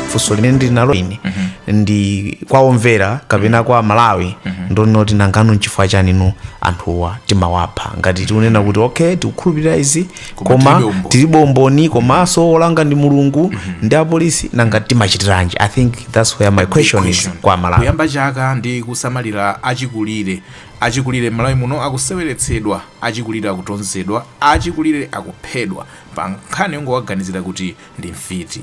funso limene ndili nalo ine ndi kwa omvera kapena kwa amalawi ndi loti nangano nchifukwa chani anthuwa timawapha ngati tikunena kuti okay tikukhulupirira izi koma tilibe umboni komanso olanga ndi mulungu ndi apolisi nanga timachitiranji i think that's where my question is kwa amalawi kuyamba chaka ndi kusamalira achikulire Achikulire m'Malawi muno akuseweretsedwa, achikulire akutonzedwa, achikulire akuphedwa pa nkhani yongowaganizira kuti ndi mfiti.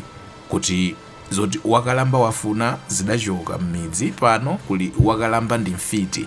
Kuti zoti wakalamba wafuna zidachoka m'midzi, pano kuli wakalamba ndi mfiti.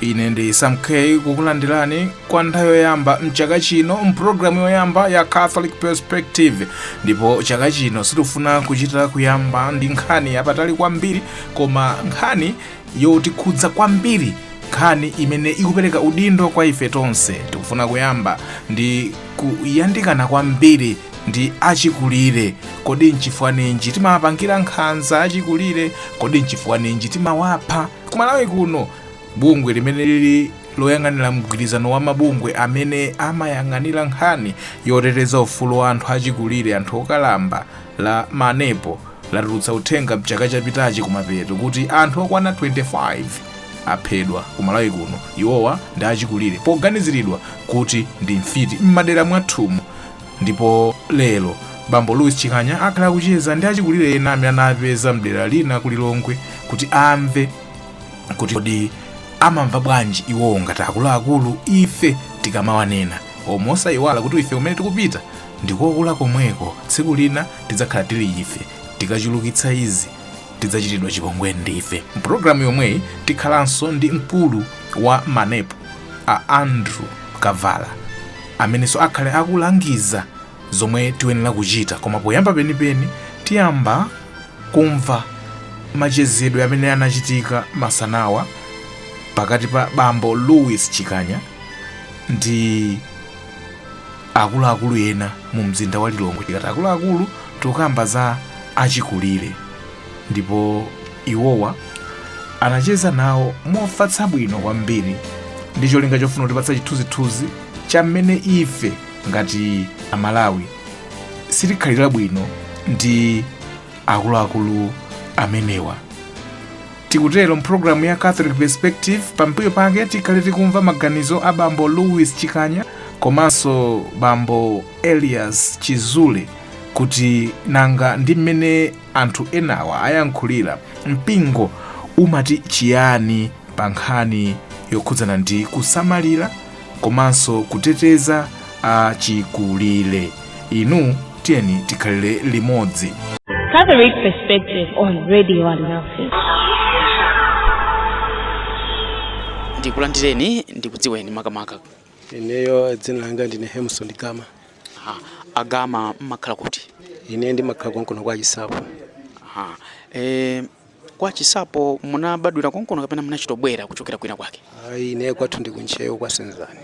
ine ndi sam k kukulandirani kwa nthawi yoyamba mchaka chino mpulogalamu yoyamba ya catholic perspective ndipo chaka chino sitifuna kuchita kuyamba ndi nkhani yapatali kwambiri koma nkhani yotikhudza kwambiri nkhani imene ikupereka udindo kwa ife tonse tikufuna kuyamba ndi kuyandikana kwambiri ndi achikulire kodi nchifukwa ninji timawapangira nkhanza achikulire kodi nchifukwa ninji timawapha kumalawi kuno bungwe limene lili loyang'anira mgwirizano wa mabungwe amene amayang'anira nkhani yoteteza ufulu wa anthu achikulire anthu okalamba la manepo latulutsa uthenga mchaka chapitachi kumapeto kuti anthu okwana 25 aphedwa kumalawi kuno iwowa ndi achikulire poganiziridwa kuti ndi mfiti m'madera mwathumu Ndipo lero, bambo Louis Chikanya akhala akucheza ndi achikulire ena amene anawapeza mdera lina ku Lilongwe kuti amve kuti kodi amamva bwanji iwowo ngati akuluakulu ife tikamawanena osayiwala kuti ife kumene tikupita ndikokula komweko tsiku lina tidzakhala tili ife tikachulukitsa izi tidzachitidwa chipongwe ndife. Mpulogalamu yomweyi tikhalanso ndi mkulu wa manepo a Andrew Kavala amenenso akhale akulangiza zomwe tiyenera kuchita koma poyamba penipeni tiyamba kumva machezedwe amene anachitika masanawa pakati pa bambo Louis Chikanya ndi akuluakulu ena mu mzinda wa lilongwe tikati akuluakulu tikukamba za achikulire ndipo iwowa anacheza nawo mofatsa bwino kwambiri ndi cholinga chofuna kutipatsa chithunzithunzi cha mmene ife ngati amalawi sitikhalira bwino ndi akuluakulu amenewa Tikutero m'programu ya Catholic Perspective, pambuyo pake tikhale tikumva maganizo a bambo Louis Chikanya komanso bambo Elias Chizule kuti nanga ndi mmene anthu enawa ayankhulira mpingo umati chiyani pa nkhani yokhudzana ndi kusamalira komanso kuteteza achikulire. Inu tiyeni tikhalire limodzi Catholic Perspective on Radio Alinafe. ndikulandireni ndikudziweni makamaka ineyo dzina langa ndine Hemson Gama Aha, a Gama mumakhala kuti ine ndimakhala konkuno kwa Chisapo Aha. E, Kwa Chisapo munabadwira konkono kapena munachitobwera kuchokera kwina kwake? Ayi, ine kwathu ndi ku Ntcheu kwa Senzani.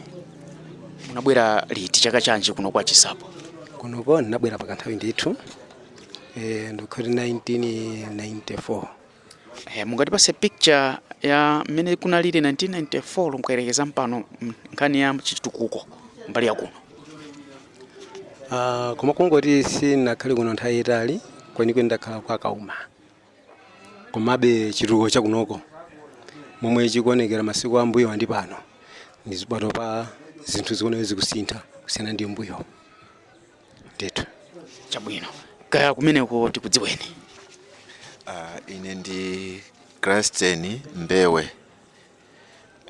Munabwera liti chaka chanji kuno kwa Chisapo? Kunoko ndinabwera pa kanthawi ndithu eh, ndikuti 1994 Eh, mungatipase picture ya mmene kunalili 1994 mukayerekeza ndi pano mm, nkhani ya chitukuko mbali ya kuno. Ah, koma kungoti sinakhale kuno nthawi yaitali kwenikweni ndakhala kwa Kauma komabe chitukuko chakunoko momwe chikuonekera masiku ambuyo ndi pano ndi pano pa zinthu zikuoneka zikusintha kusiyana ndi mbuyo ndithu chabwino kaya kumeneko tikudziweni Ah, ine ndi Kristen Mbewe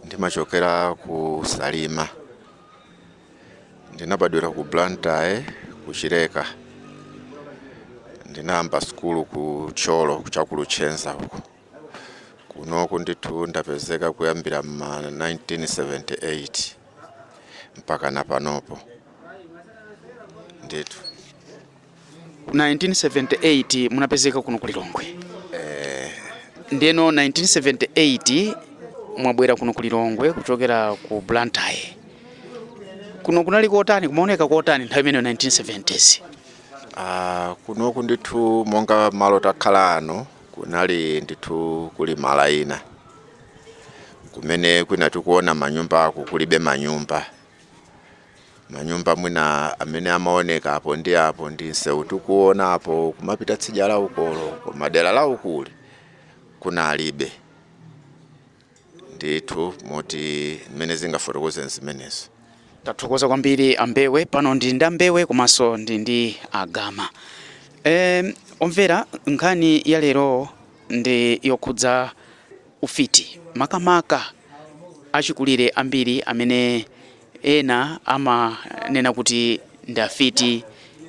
ndimachokera ku Salima ndinabadwira ku Blantyre ku Chileka ndinayamba sukulu ku Thyolo cha ku Luchenza uku kunoku ndithu ndapezeka kuyambira ma 1978 mpaka na panopo ndithu 1978 munapezeka kuno ku Lilongwe eh. Ndeno 1978 mwabwera kuno ku Lilongwe kuchokera ku Blantyre. Kuno kunali kotani, kumaoneka kotani nthawi imeneyo 1970s? Ah, kunoku ndithu monga malo takhala ano kunali ndithu kuli malo ena kumene kwina tikuona manyumba ako kulibe manyumba Manyumba mwina amene amaoneka apo ndi apo ndi msewu tikuona apo kumapita tsidya la ukolo, koma dera la ukuli kunalibe ndithu moti mmene ndingafotokozere ndi zimenezo. Tathokoza kwambiri a Mbewe. Pano ndi ndi a Mbewe komanso ndi ndi a Gama. E, omvera nkhani ya lero ndi yokhudza ufiti makamaka achikulire ambiri amene Ena amanena kuti ndi afiti,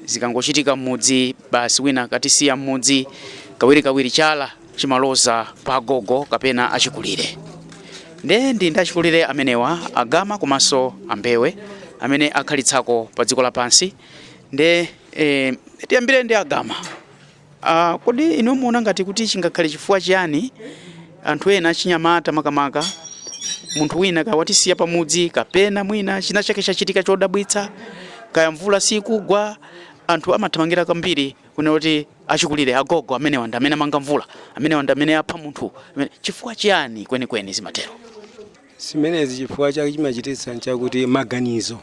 zikangochitika m'mudzi basi wina katisiya m'mudzi, kawirikawiri chala chimaloza pa agogo kapena achikulire. Nde ndi ndi achikulire amenewa, a Gama komanso a Mbewe, amene akhalitsako padziko lapansi. Nde eh, tiyambire ndi a Gama. Uh, kodi inu muona ngati kuti chingakhale chifukwa chiyani anthu ena achinyamata makamaka munthu wina kawatisiya pamudzi kapena mwina china chake chachitika chodabwitsa kaya mvula sikugwa anthu amathamangira kwambiri kunena kuti achikulire agogo amenewa ndi amene amanga mvula amenewa ndi amene apha munthu chifukwa chiyani kwenikweni zimatero zimenezi chifukwa chake chimachititsa nchakuti maganizo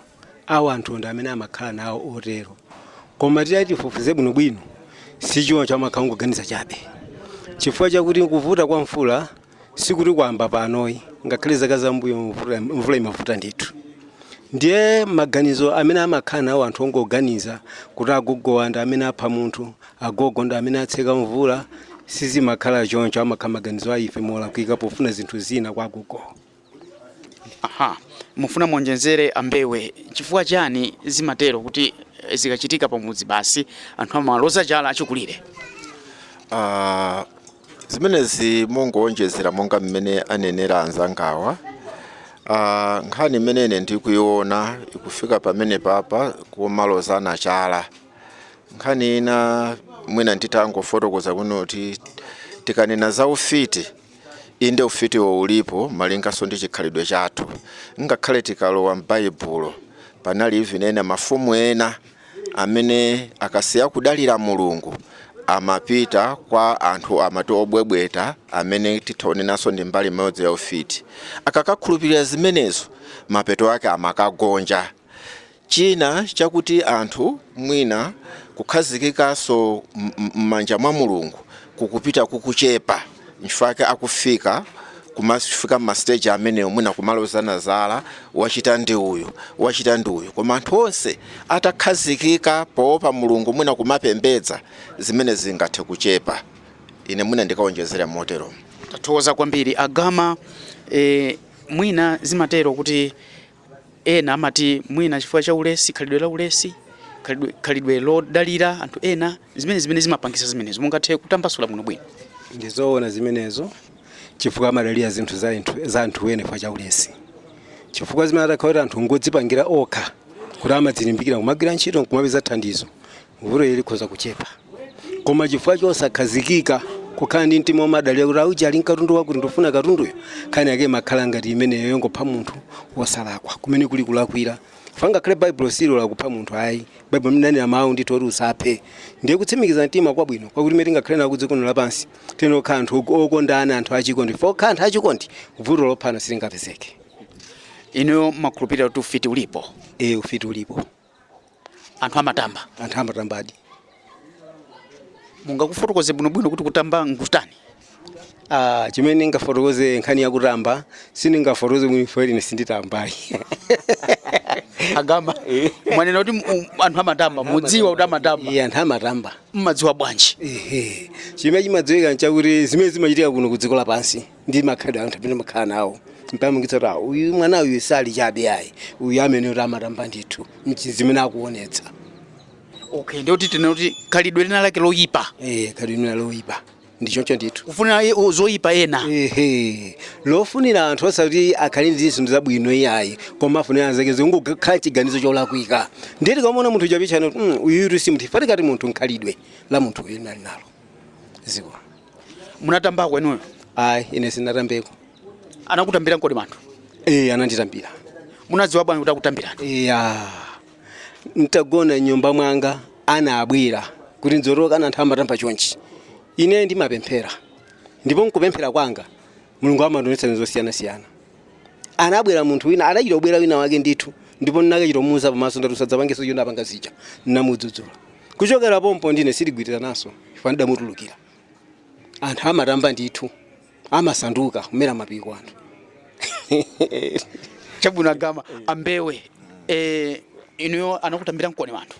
awo anthu ndi amene amakhala nawo otero koma titati tifufuze bwinobwino si choncho amakhala ongoganiza chabe chifukwa chakuti kuvuta kwa mvula sikuti kwayamba pano ayi ngakhale zaka zambuyo mvula, mvula imavuta ndithu ndiye maganizo amene amakhala nawo anthu ongoganiza kuti agogowa ndi amene apha munthu agogo ndi amene atseka mvula sizimakhala choncho amakhala maganizo a ife molakwika pofuna zinthu zina kwa agogowa Aha, mufuna muonjezere ambewe chifukwa chani zimatero kuti eh, zikachitika pamudzi basi anthu amaloza chala achikulire Ah, zimenezi mongowonjezera monga mmene anenera anzangawa Ah, nkhani imene ine ndikuiona ikufika pamenepa pa kumalozana chala nkhani ina mwina nditangofotokoza kuti tikanena za ufiti Inde, ufitiwo ulipo malinganso ndi chikhalidwe chathu. Ngakhale tikalowa m'Baibulo, panali even ena mafumu ena amene akasiya kudalira Mulungu amapita kwa anthu amati obwebweta amene titha kunenanso ndi mbali imodzi ya ufiti. Akakakhulupirira zimenezo, mapeto ake amakagonja. China chakuti anthu mwina kukhazikikanso mmanja mwa Mulungu kukupita kukuchepa nchifukwa chake akufika kumafika mma stage amenewo mwina kumalozana zala wachita ndi uyu wachita ndi uyu koma anthu onse atakhazikika powopa Mulungu mwina kumapembedza zimenezi zingathe kuchepa ine mwina ndikaonjezere moteromo. Tathokoza kwambiri a Gama, eeh mwina zimatero kuti Ena amati mwina chifukwa cha ulesi, khalidwe la ulesi, khalidwe, khalidwe lodalira anthu ena, zimenezi zimene zimapangisa zimenezo. Mungathe kutambasula bwino bwino. ndizoona zimenezo chifukwa amadalira zinthu za anthu za anthu ena chifukwa cha ulesi chifukwa zimene atakhala kuti anthu ngodzipangira okha kuti amadzilimbikira kumagwira ntchito nkumapeza thandizo vuto ili likhoza kuchepa koma chifukwa chosakhazikika kukhala ndi mtima womadalira kuti aujeni ali nkatundu wakuti ndifuna katunduyo nkhani yake imakhala ngati imeneyo yongopha munthu wosalakwa kumene kuli kulakwira chifukwa ngakhale baibulo silola kupha munthu ayi baibulo limanena mawu ndithu oti usaphe ndiye kutsimikiza mtima kwabwino kwakuti mmene tingakhale nawo kudziko lino lapansi tiyenera kukhala anthu ok- okondana anthu achikondi fo kukhala anthu achikondi vuto lophana silingapezeke inuyo makhulupirira kuti ufiti ulipo e ufiti ulipo anthu amatamba anthu amatambadi mungakufotokoze bwinobwino kuti kutamba nkutani Ah, chimene ngafotokoze nkhani ya kutamba sindingafotokoze mwini for ine sinditambayi agama mwanena kuti mu- anthu amatamba mudziwa kuti amatamba ee anthu amatamba mmadziwa bwanji Ehe. chimene chimadziwika nchakuti zimene zimachitika kuno ku dziko lapansi ndi makhalidwe anthu amene amakhala nawo zimapangitsa kuti "Ah, uyu mwana uyu sali chabe ayi uyu amene kuti amatamba ndithu Nchi- zimene akuonetsa okay ndiye kuti tinene kuti khalidwe lina lake loyipa eh khalidwe lina lake loyipa ndi choncho ndithu kufunira i- u- zoyipa ena ehe lofunira anthu osati akhale ndi zinthu zabwino iyayi koma afunira zake zingokhala chiganizo cholakwika ndiye tikamuona munthu timapezana kuti "Mm, uyutu si munthu chifukwa tikati munthu nkhalidwe la munthu uyu alibe nzimu munatambako inuyo ayi ine sinatambeko anakutambira nkoni anthu ee ananditambira munadziwa bwanji kuti akutambirani iya ntagona mnyumba mwanga anabwera kuti ndzotoloka ana anthu amatamba chonchi ine ndimapemphera ndipo nkupemphera kwanga mulungu amandionetsa zinthu zosiyanasiyana anabwera munthu wina adachita kubwera wina wake ndithu ndipo ndinakachita kumuuza pamaso ndati usadzapangenso zomwe wapanga zija ndinamudzudzula kuchokera pompo ndine sitigwirirananso chifukwa ndidamutulukira anthu amatamba ndithu amasanduka kumera mapiko anthu chabwino agama ambewe eh, inuyo anakutambira nkoni anthu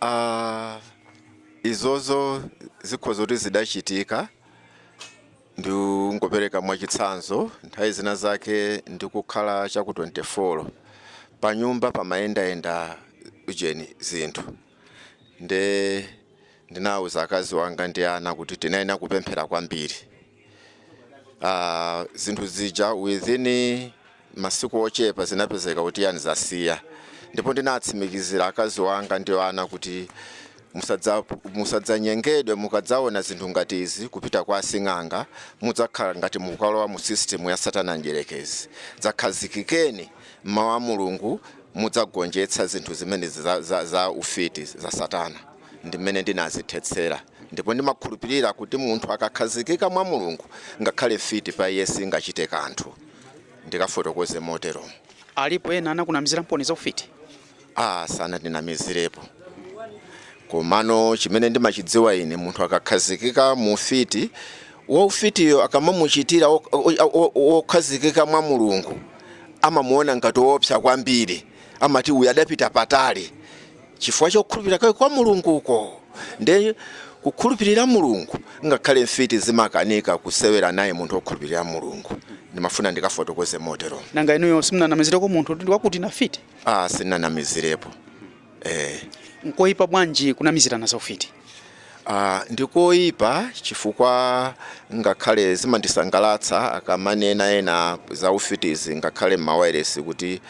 Ah, izozo zikhoza kuti zidachitika Ndingopereka mwachitsanzo, nthawi zinazake ndikukhala cha ku 24, panyumba pamayendayenda ujeni, zinthu, nde ndinauza akazi wanga ndi ana kuti tiyenera kupemphera kwambiri, aah zinthu zija within. Masiku ochepa zinapezeka kuti yani zasiya ndipo ndinatsimikizira akazi wanga ndi ana kuti musadzanyengedwe mukadzaona zinthu ngati izi kupita kwa asing'anga mudzakhala ngati mukalowa mu system ya satana mdyerekezi dzakhazikikeni mmau a Mulungu mudzagonjetsa zinthu zimenezi za za za ufiti za satana ndi mmene ndinazithetsera ndipo ndimakhulupirira kuti munthu akakhazikika mwa Mulungu ngakhale mfiti pa iye singachite kanthu. ndikafotokoze motero. Alipo ena anakunamiziramponi za ufiti? Ah, sanandinamizirepo komano chimene ndimachidziwa ine munthu akakhazikika mu ufiti waufitiyo akamamuchitira wokhazikika mwa Mulungu amamuona ngati woopsa kwambiri, amati uyu adapita patali. chifukwa chokhulupirira kwake kwa Mulungu uko nde kukhulupirira Mulungu ngakhale mfiti zimakanika kusewera naye munthu okhulupirira Mulungu ndimafuna ndikafotokoze motero nanga inuyo simunanamizireko munthu ndiye kuti ndi afiti ah sindinanamizirepo eh nkoyipa bwanji kunamizirana za ufiti Ah, ndikoyipa chifukwa ngakhale zimandisangalatsa akamanena ena za ufitizi ngakhale m'mawairesi kuti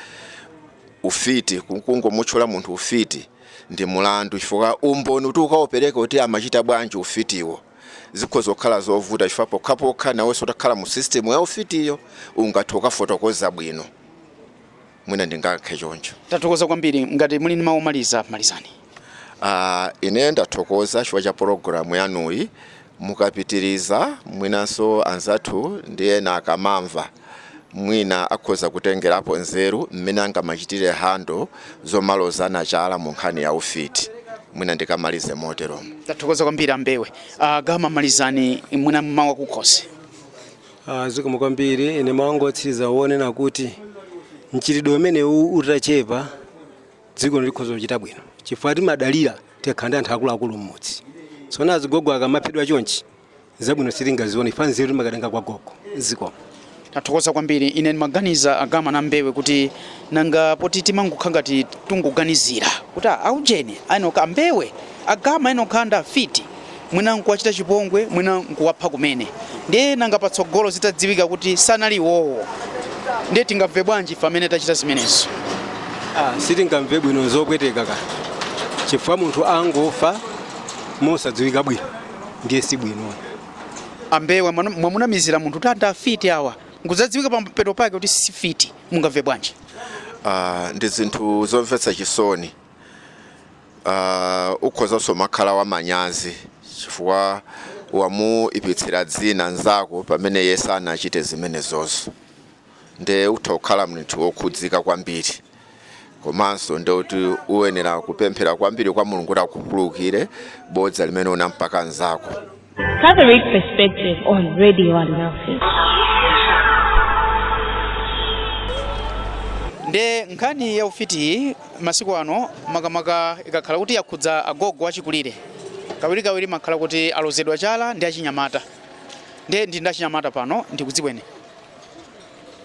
ufiti kungomutchula munthu ufiti ndi mulandu chifukwa umboni kuti ukaupereke kuti amachita bwanji ufitiwo zikhoza kukhala zovuta chifukwa pokhapokha nawenso utakhala mu system ya ufitiyo ungathe kukafotokoza bwino mwina ndingayankhe choncho. Tathokoza kwambiri. Ngati muli ndi mawu omaliza, malizani. Uh, ine ndathokoza chifukwa cha pologalamu yanuyi mukapitiriza mwinanso anzathu ndi ena akamamva mwina akhoza kutengerapo nzeru mmene angamachitire and osamalozana chala mu nkhani ya ufiti mwina ndikamalize moteromo tathokoza kwambiri ambewe uh, gama malizani mwina mawu a kukhosi uh, ah, zikomo kwambiri ine mawu anga otsiriza onena kuti mchitidwe umenewu utachepa dziko likhoza kuchita bwino chifukwa timadalira tikakhala ndi anthu akuluakulu mmudzi tsopano azigogo akamaphedwa chonchi zabwino sitingazione chifukwa nzeru timakatenga kwa gogo zikomo tathokoza kwambiri ine ndimaganiza agama na mbewe kuti nanga poti timangokhala ngati tungoganizira kuti ah, aujeni ayenokhala ambewe agama ayenokhala ndi afiti mwina nkuwachita chipongwe mwina nkuwapha kumene ndiye nanga patsogolo zitadziwika kuti sanali iwowo ndiye tingamve bwanji ife amene tachita zimenezo Ah, sitingamve bwino nzopweteka ka chifukwa munthu angofa mosadziwika bwino ndiye si bwino ambewe mwana- mwamunamizira munthu kuti ndi afiti awa nkuzadziwika pamapeto pake kuti si fiti mungamve bwanji Ah, ndi zinthu zomvetsa chisoni Uh, ukhozanso kumakhala wamanyazi chifukwa wamuipitsira dzina nzako pamene iye sanachite zimenezozo nde utha kukhala munthu wokhudzika kwambiri komanso nde kuti uyenera kupemphera kwambiri kwa mulungu kuti akukhululukire bodza limene unampaka nzako Catholic Perspective on Radio Alinafe. nde nkhani ya ufitiyi masiku ano makamaka ikakhala kuti yakhudza agogo achikulire kawirikawiri imakhala kuti alozedwa chala ndi achinyamata nde ndili ndi achinyamata pano ndikudziweni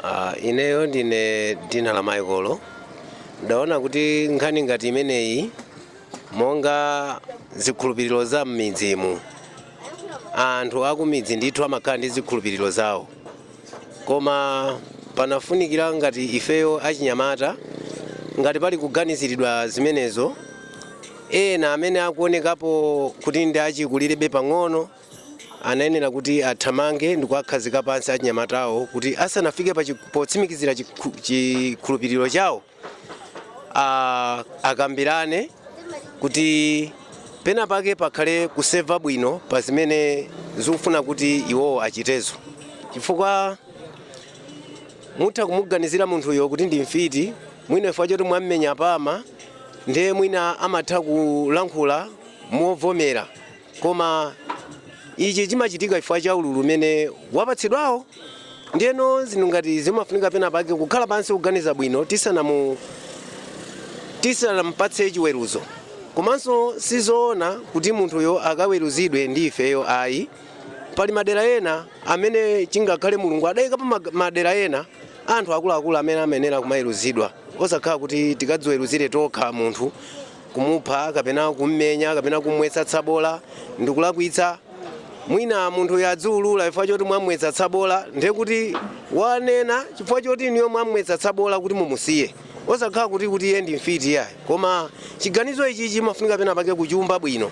Ah, ineyo ndine dzina la Michael ndaona kuti nkhani ngati imeneyi monga zikhulupiriro za m'midzimu anthu akumidzi ndithu amakhala ndi zikhulupiriro zawo koma panafunikira ngati ifeyo achinyamata ngati pali kuganiziridwa zimenezo ena amene akuonekapo kuti ndi achikulirebe pang'ono anayenera kuti athamange ndikuwakhazika pansi achinyamatawo kuti asanafike potsimikizira chikhulupiriro chawo a- akambirane kuti pena pake pakhale kusefa bwino pa zimene zikufuna kuti iwowo achitezo chifukwa mutha kumuganizira munthuyo kuti ndi mfiti mwina chifukwa choti mwammenya pama ndiye mwina amatha kulankhula movomera Koma ichi chimachitika chifukwa cha ululu umene wapatsidwawo. Ndiyeno zinthu ngati izi zimafunika pena pake kukhala pansi kuganiza bwino tisanamu tisanamupatse chiweruzo. Komanso sizoona kuti munthuyo akaweruzidwe ndi ifeyo ayi. Pali madera ena amene chingakhale Mulungu adaikapo madera ena anthu akuluakulu amene amayenera kumaweruzidwa osakhala kuti tikadziweruzire tokha munthu kumupha kapena kummenya kapena kumwetsa tsabola ndikulakwitsa mwina munthu uja wadziulula chifukwa choti mwamwetsa tsabola ndiye kuti wanena chifukwa choti inuyo mwamwetsa tsabola kuti mumusiye osakhala kuti kuti iye ndi mfiti yayi koma chiganizo ichi chimafunika pena pake kuchiumba bwino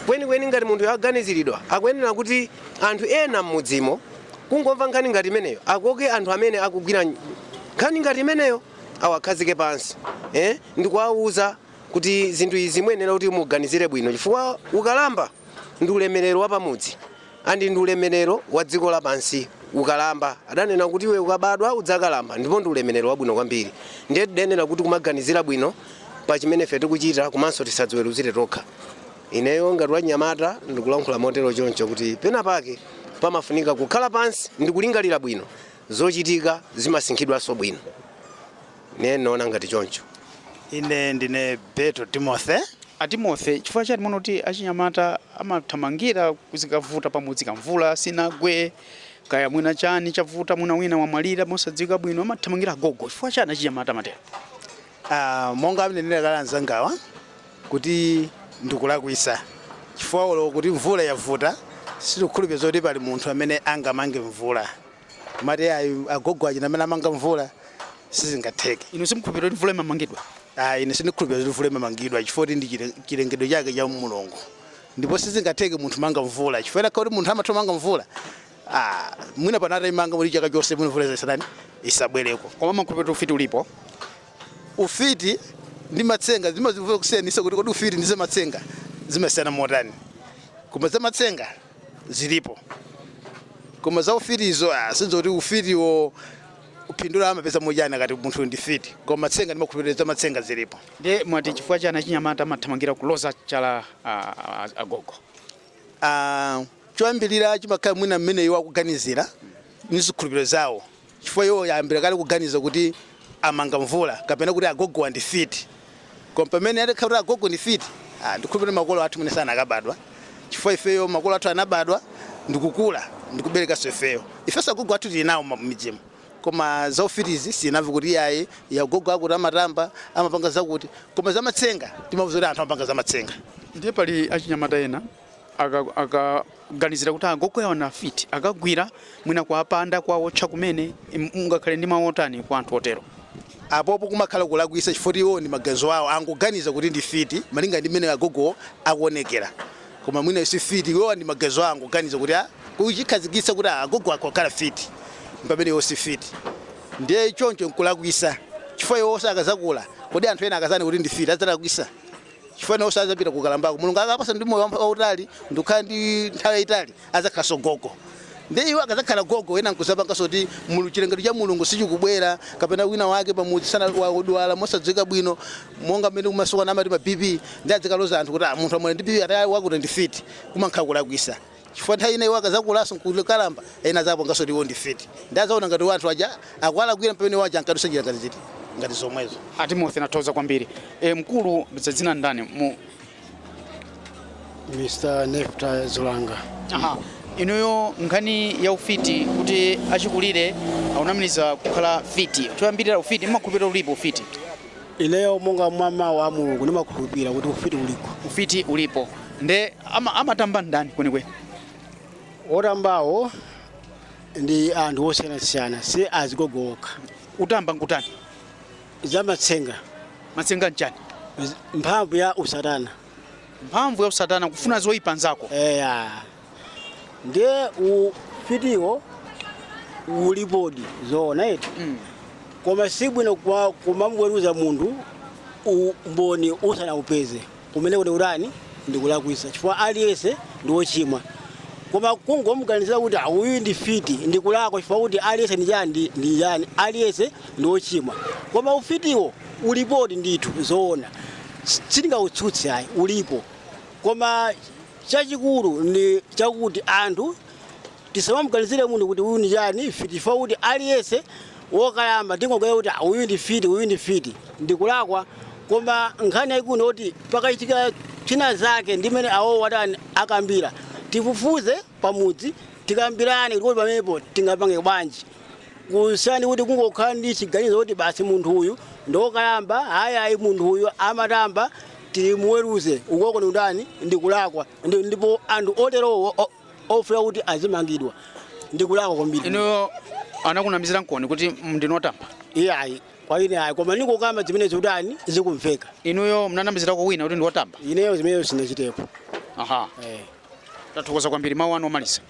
kwenikweni ngati munthu aganiziridwa akuyenera kuti anthu ena m'mudzimo kungomva nkhani ngati imeneyo akoke anthu amene akugwira nkhani ngati imeneyo awakhazike pansi eh, ndikuwauza kuti zinthu izi muyenera kuti muganizire bwino chifukwa ukalamba ndi ulemerero wa pamudzi and ndi ulemerero wa dziko lapansi ukalamba adanena kuti iwe ukabadwa udzakalamba ndipo ndi ulemerero wabwino kwambiri ndiye tidayenera kuti kumaganizira bwino pa chimene ife tikuchita komanso tisadziweruzire tokha ineyo ngati wanyamata ndikulankhula motero choncho kuti pena pake pamafunika kukhala pansi ndikulingalira bwino zochitika zimasinkhidwanso bwino ne naona ngati choncho ine ndine beto timothy a timothy chifukwa chani muno kuti achinyamata amathamangira kuti zikavuta pamudzi kaya mvula sinagwe kaya mwina chani chavuta mwina wina wamwalira mosadziwika bwino amathamangira gogo chifukwa chani achinyamata amatero uh, monga anenera kale anzangawa kuti ndikulakwisa chifukwa olo kuti mvula yavuta sindikukhulupirira zoti pali munthu amene angamange mvula amati ayi agogo ndi amene amanga mvula sizingatheke inu simukhulupirira kuti mvula imamangidwa ayi ine sindikhulupirira kuti mvula imamangidwa chifukwa kuti ndi chile- chilengedwe chake cha mulungu ndipo sizingatheke munthu kumanga mvula chifukwa atakhala kuti munthu amatha kumanga mvula ah, mwina pano ataimanga kuti chaka chonse mwina mvula isatani isabwereko koma mumakhulupirira kuti ufiti ulipo ufiti ndi matsenga zimandivuta kusiyanisa kuti kodi ufiti ndi zamatsenga zimasiyana motani koma zamatsenga zilipo koma za ufitizo ah, sindidziwa kuti ufitiwo phindu lake amapeza motani akati munthu ndi mfiti koma matsenga ndimakhulupirira za matsenga zilipo ndiye mwati chifukwa chani achinyamata amathamangira kuloza chala ah, ah, agogo Ah, choyambirira chimakhala mwina mmene iwo akuganizira ndi zikhulupiriro zawo chifukwa iwo ayambira kale kuganiza kuti amanga mvula kapena kuti agogowa ndi mfiti koma pamene atakhala kuti agogo ndi mfiti ah, ndikhulupirira makolo athu mwina sanakabadwa chifukwa ifeyo makolo athu anabadwa ndikukula ndikuberekanso ifeyo ifenso agogo athu tili nawo mmidzimu koma za ufitizi sinamve kuti iyayi agogo akuti amatamba amapanga zakuti koma zamatsenga timamva zoti anthu amapanga zamatsenga ndiye pali achinyamata ena akaganizira aka, kuti agogo awo ndi afiti akawagwira mwina kuwapanda kuwawotcha kumene mungakhale ndi mawu otani kwa anthu otero apopo kumakhala kulakwisa chifukwa iwo ndi maganizo awo angoganiza kuti ndi mfiti malinga ndi mmene agogo akuonekera koma mwina si mfiti iwo ndi maganizo awo angoganiza kuti ah, kuchikhazikitsa kuti ah, agogo amakhala mfiti pamene iwo si mfiti ndiye choncho nkulakwisa chifukwa iwo nso akazakula kodi anthu ena akazanena kuti ndi mfiti adzalakwisa chifukwa nawonso adzapita kukalambako mulungu akawapatsa moyo wampa- wautali ndikukhala ndi nthawi yayitali adzakhalanso gogo ndiye iwo akadzakhala gogo ena nkuzapanganso kuti mulu- chilengedwe cha mulungu sichikubwera kapena wina wake pamudzi msana wadwala mosadziwika bwino monga mmene kumasiku ano amati ma bp ndiye adzikaloza anthu kuti "Ah, munthu amene ali ndi bp ati awa akuti ndi mfiti kumakhala kulakwisa chifukwa nthawi ina iwo akazakulanso nkukalamba ena azapanganso kuti iwo ndi mfiti ndiye azaona ngati anthu aja akuwalakwira pamene iwo aja ankadusa njira ngati ziti ngati zomwezo a timothy ndathokoza kwambiri e, mkulu dzina ndani mu Mr. Nefta Zulanga. aha inuyo nkhani ya ufiti kuti achikulire akunamiziridwa kukhala mfiti choyambirira ufiti mmakhulupirira ulipo ufiti Ineyo monga mwa mawu a Mulungu ndimakhulupira kuti ufiti ulipo. Ufiti ulipo nde ama-, amatamba ndani kwenikweni? Otambawo ndi anthu osiyanasiyana, si azigogo okha. Kutamba nkutani? Zamatsenga. Matsenga nchani? Mphamvu ya usatana. Mphamvu ya usatana kufuna zoipa nzako? Eya. ndiye ufitiwo ulipodi zoona eti koma si bwino kuma- kumamuweruza munthu umboni usanaupeze kumeneko ni kutani ndikulakwisa chifukwa aliyense ndi wochimwa koma kungomuganizira kuti "Ah, uyu ndi mfiti ndikulakwa chifukwa kuti aliyense ndi chani ndi- ndi chani aliyense ndi wochimwa koma ufitiwo ulipodi ndithu zoona sindingautsutse ayi ulipo koma Chachikulu ndi chakuti anthu tisamamuganizire munthu kuti uyu ndi chani mfiti chifukwa kuti aliyense wokalamba tingoganiza kuti ah, uyu ndi mfiti uyu ndi mfiti ndikulakwa koma nkhani yayikulu ndiyoti pakachitika chinachake ndi mmene awowa atani akambira tifufuze pamudzi tikambirane kuti pamenepo tingapange bwanji kusiyana kuti kungokhala ndi chiganizo kuti basi munthu uyu ndokalamba ayi ayi munthu uyu amatamba timuweruze kumeneko ndi kutani ndi kulakwa Ndi- ndipo anthu oterowo o- ofuna kuti azimangidwa ndi kulakwa kwambiri inuyo anakunamiziraniponi kuti ndinu otamba iyayi kwa ine ayi koma ndikukamba zimene zikutani zikumveka inuyo mnanamizirako wina kuti ndiwotamba ineyo zimenezo sindinachitepo aha Eh. Tathokoza kwambiri. Mawu anu omaliza.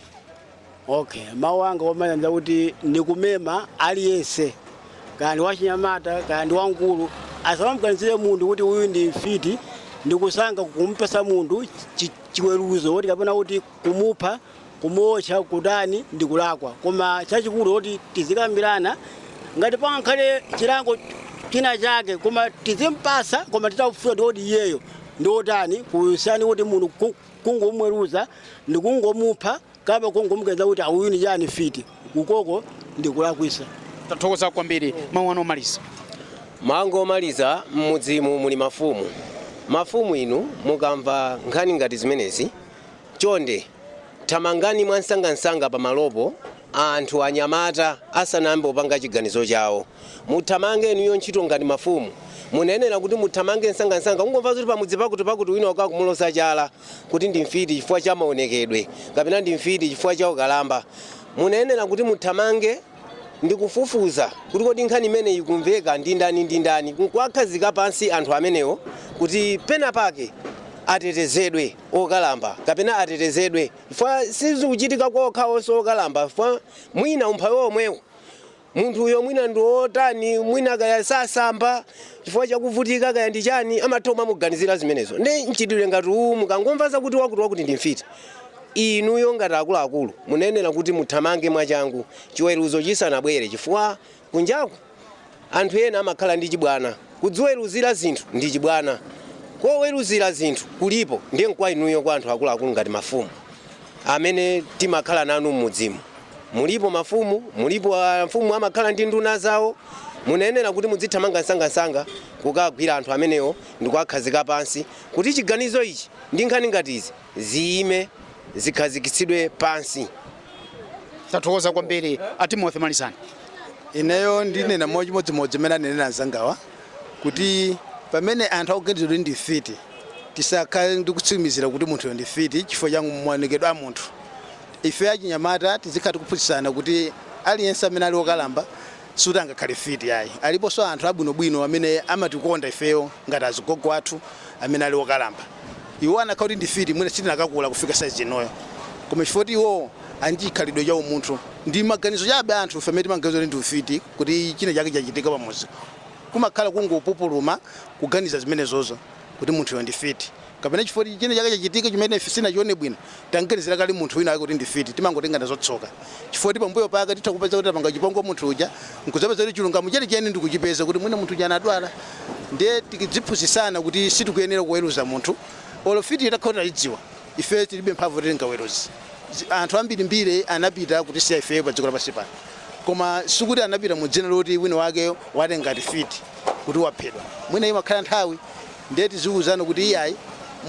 Okay, mawu anga omaliza ngakuti ndikumema aliyense kaya ndi wachinyamata kaya ndi wamkulu asamamganizire munthu kuti uyu ndi mfiti ndikusanga kumpasa munthu chi- chiweruzo kuti kapena kuti kumupha kumuotcha kutani ndikulakwa koma chachikulu kuti tizikambirana ngati pangakhale chilango china chake koma tizimpasa koma titafufuza kuti iyeyo ndi otani kusiyana kuti munthu ku- kungomweruza ndi kungomupha kapena kungomuganiza kuti ah uyu ni chani mfiti kumeneko ndi kulakwisa tathokoza kwambiri mawu anu omaliza mawu anga omaliza m'mudzimu muli mafumu mafumu inu mukamva nkhani ngati zimenezi Chonde thamangani mwansangansanga pamalopo anthu, anyamata, asanayambe kupanga chiganizo chawo. Muthamange inuyo ntchito ngati mafumu. Munayenera kuti muthamange nsangansanga. Kungomva zoti pamudzi pakutipakuti wina wake akumuloza chala kuti ndi mfiti chifukwa cha maonekedwe kapena ndi mfiti chifukwa cha ukalamba, munayenera kuti muthamange ndi kufufuza kuti kodi nkhani imeneyi ikumveka ndi ndani ndi ndani, n'kuwakhazika pansi anthu amenewo kuti penapake atetezedwe. okalamba kapena atetezedwe chifukwa sizikuchitika kwa okhawo onse okalamba chifukwa mwina umphawi womwewo munthuyo mwina ndi wotani mwina kaya sasamba chifukwa chakuvutika kaya ndi chani amatha kumamuganizira zimenezo ndiye mchitidwe ngati uwu mukangomva zakuti wakuti wakuti ndi mfiti inuyo ngati akuluakulu munayenera kuti muthamange mwachangu chiweruzo chisanabwere chifukwa Kunjaku anthu ena amakhala ndi chibwana. Kudziweruzira zinthu ndi chibwana. Koweruzira zinthu kulipo ndiye nkwa inuyo kwa anthu akuluakulu ngati mafumu amene timakhala nanu m'mudzimu. Mulipo mafumu, mulipo amfumu amakhala ndi nduna zawo. Munayenera kuti mudzithamanga msangamsanga kukagwira anthu amenewo ndikuwakhazika pansi kuti chiganizo ichi ndi nkhani ngati izi ziyime zikhazikitsidwe pansi. tathokoza kwambiri a timothy malizani ineyo ndinena mochimodzimodzi mmene anenera anzangawa kuti pamene anthu akuganiza kuti ndi mfiti tisakhale ndi kutsimikizira kuti munthuyo ndi mfiti chifukwa cha maonekedwe a munthu ife achinyamata tizikhala tikuphunzitsana kuti aliyense amene ali wokalamba sikuti angakhale mfiti ayi. Aliponso anthu abwinobwino amene amatikonda ifeyo ngati azigogo athu amene ali okalamba. Iwo anakhala kuti ndi mfiti mwina sitinakakula kufika size inoyo. Koma chifukwa choti iwowo ali ndi chikhalidwe cha umunthu. Ndi maganizo chabe a anthufe amene timaganiza kuti ndi ufiti kuti china chake chachitika pa mudzi. Kumakhala kungopupuluma kuganiza zimenezozo kuti munthuyo ndi mfiti. kapena chifukwa kuti chinachake chachitika chimene ife sitinachione bwino, tam'ganizira kale munthu winawake kuti ndi mfiti, timangotenga nazo tsoka. Chifukwa kuti pambuyo pake titha kupeza kuti tapanga chipongwe munthu uja, n'kudzapeza kuti chilungamo chenicheni ndi kuchipeza kuti mwina munthu uja anadwala. Ndiye tidziphunzitsana kuti sitikuyenera kuweruza munthu olo mfitiyo itakhala kuti taidziwa. Ifeyo tilibe mphamvu yoti tingaweruze. Zi- Anthu ambirimbiri anapita kutisiya ifeyo padziko lapansi pano, koma sikuti anapita mu dzina loti winawake watenga ngati mfiti kuti waphedwa. Mwina imakhala nthawi Ndiye tiziuzana kuti iyayi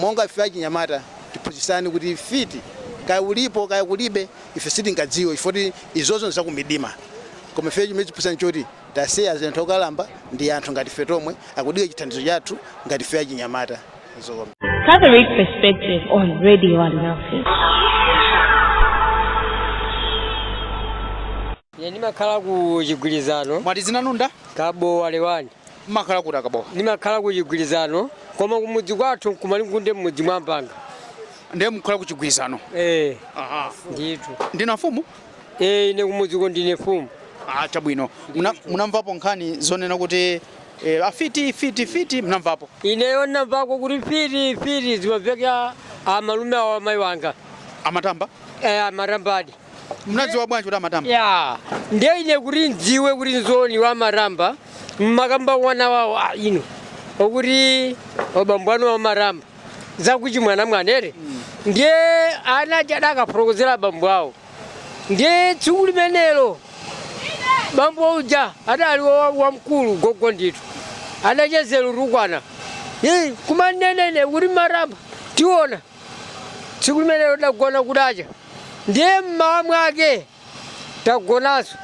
monga ife achinyamata tiphunzitsane kuti ufiti kaya ulipo kaya kulibe ife sitingadziwe chifoti izozo nzakumidima koma ifeyo chimene tiphunzitsane nchoti tasiya zinthu okalamba ndi anthu ngati ife tomwe akudika chithandizo chathu ngati ife achinyamata zikomo. Catholic Perspective on Radio Alinafe. Ine ndimakhala ku Chigwirizano. Mwati dzina lanu ndani? Kabo Walewani. Mmakhala kuti akabowa? Ndimakhala ku Chigwirizano koma kumudzi kwathu nkumalingunde mmudzi mwa Mpanga. Ndiye mukhala ku Chigwirizano? Eh. Aha. Ndithu. Ndinu amfumu? Eh, ine kumudziko ndine mfumu. Ah, chabwino. Muna- Munamvapo nkhani zonena kuti eh, afiti mfiti mfiti munamvapo? Ineyo ndinamvako kuti mfiti mfiti zimamveka amalume awo amayi wanga. Amatamba? Eh, amatambadi. munadziwa bwanji kuti amatamba eya ndiye ine kuti ndidziwe kuti nzoonadi amatamba amakamba wana wawo a ino okuti abambo anuwa amatamba zakuchi mwanamwanere ndiye ana aja adakafotokozera abambo awo ndiye tsiku limenelo bambo uja adali wa- wamkulu gogo ndithu adachezera kutukwana Ye, kumanena kuti amatamba tiona Tsiku limenelo tidagona kudacha, ndiye m'mawa mwake tagonanso.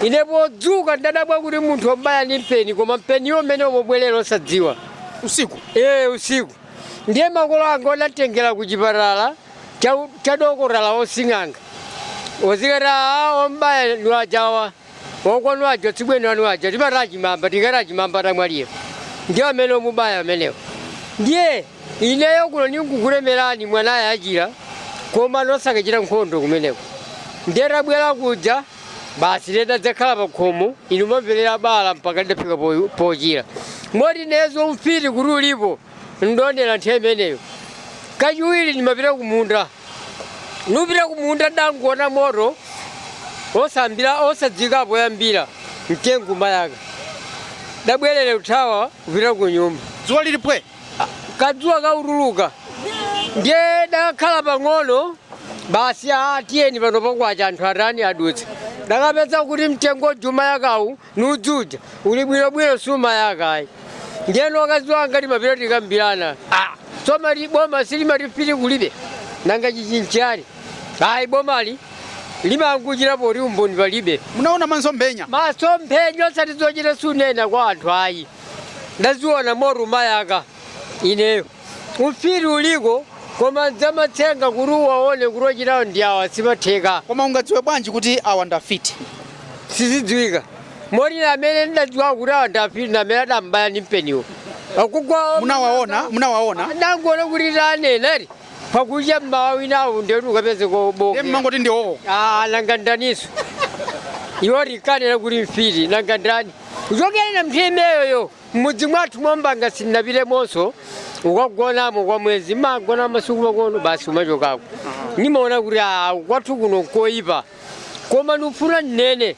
Ine podzuka ndidadabwa kuti munthu amubaya ndi mpeni, koma mpeniwo mmene umabwerera osadziwa. Usiku? Ee, usiku. Ndiye makolo anga adamtengera ku chipatala cha, cha dokotala asing'anga adzikati aa wamubaya ndi ajawa Akwanu aja tsibweni anu aja timati Achimamba tikati Achimamba adamwalira ndiye amene amubaya amenewo ndiye ineyo kuno ndingokutemerani mwanayu achira komano osakachita nkhondo kumeneko ndiye tabwera kuja basi titadzakhala pa khomo ino ndimampera bala mpaka lidafika po- pochira moti ineyo ufiti kuti ulipo ndaonera nthawi imeneyo kachiwiri ndimapita kumunda ndikupita kumunda ndangoona moto osambira osadziwika poyambira mtengo umayaka ndabwerera kuthawa kupita ku nyumba dzuwa lili pwe kadzuwa kakutuluka ndiye ndakakhala pang'ono basi aa tiyeni pano pakwacha anthu atani adutsa ndakapeza kuti mtengo uja umayakawu Udzu uja uli bwino bwino sumayaka ayi ndiyeno akazi anga timapita tikambirana ah, simati boma silimati ufiti kulibe nanga ichi nchiyani ayi bomali limangochita poti umboni palibe munaona maso mphenya maso mphenya osati zochita kunena kwa anthu ayi ndaziona moto umayaka ineyo Ufiti uliko koma zamatsenga kuti uwaone kuti ochitawo ndi awa sizimatheka. Koma ungadziwe bwanji kuti awa ndi afiti? Sizidziwika. Moti amene ndidadziwa kuti awa ndi afiti ndi amene adambaya ndi mpeniwo. Akugwa Munawaona? Munawaona? Ndangoona kuti tanena ati pakucha mmawa winawo ndiyoti ukapeze Ndiye kobonga. mmangoti ndi iwowo. Ah, nanga ndaninso. Iwo tikanena kuti mfiti nanga ndani. Kuchokera na nthawi imeneyoyo. M'mudzi mwathu mwa Mbanga sindinapitemonso kukagonamo kwa mwezi ndimagona masiku makono basi kumachokako nimaona kuti ah, kwathu kuno nkoyipa koma ndikufuna ndinene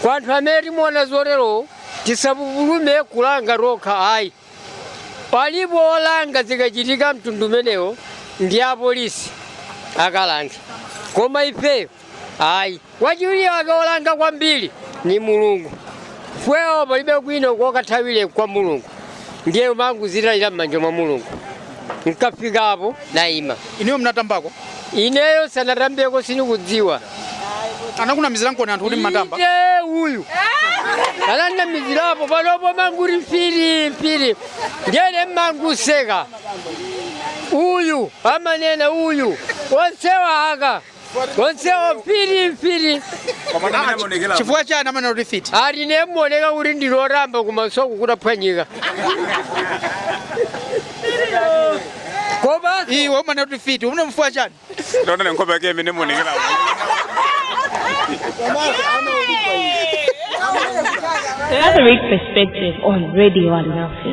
kwa anthu amene timaona zotero tisapupulume kulanga tokha ayi alipo olanga zikachitika mtundu umenewo ndi apolisi akalange koma ifeyo ayi wachiwiri wake wolanga kwambiri ni mulungu ifeyo palibe kwina kokathawira kwa mulungu ndiye umangozitayira m'manja mwa mulungu nkafikapo nayima ineyo munatambako ineyo sinatambeko sinikudziwa anakunamiziraniko anthu kuti mumatamba Inde uyu ananamizirapo panopo amangoti mfiti mfiti ndiye ine mmangoseka uyu amanena uyu onsewa aka onsewo mfiti mfiti chifukwa chani amanena kuti mfiti ali nemuoneka kuti ndi lotamba kumaso kutaphwanyika koma iwe umanena kuti mfiti umene chifukwa chani ndonene nkhope yake mmene imaonekera Catholic Perspective on Radio Alinafe.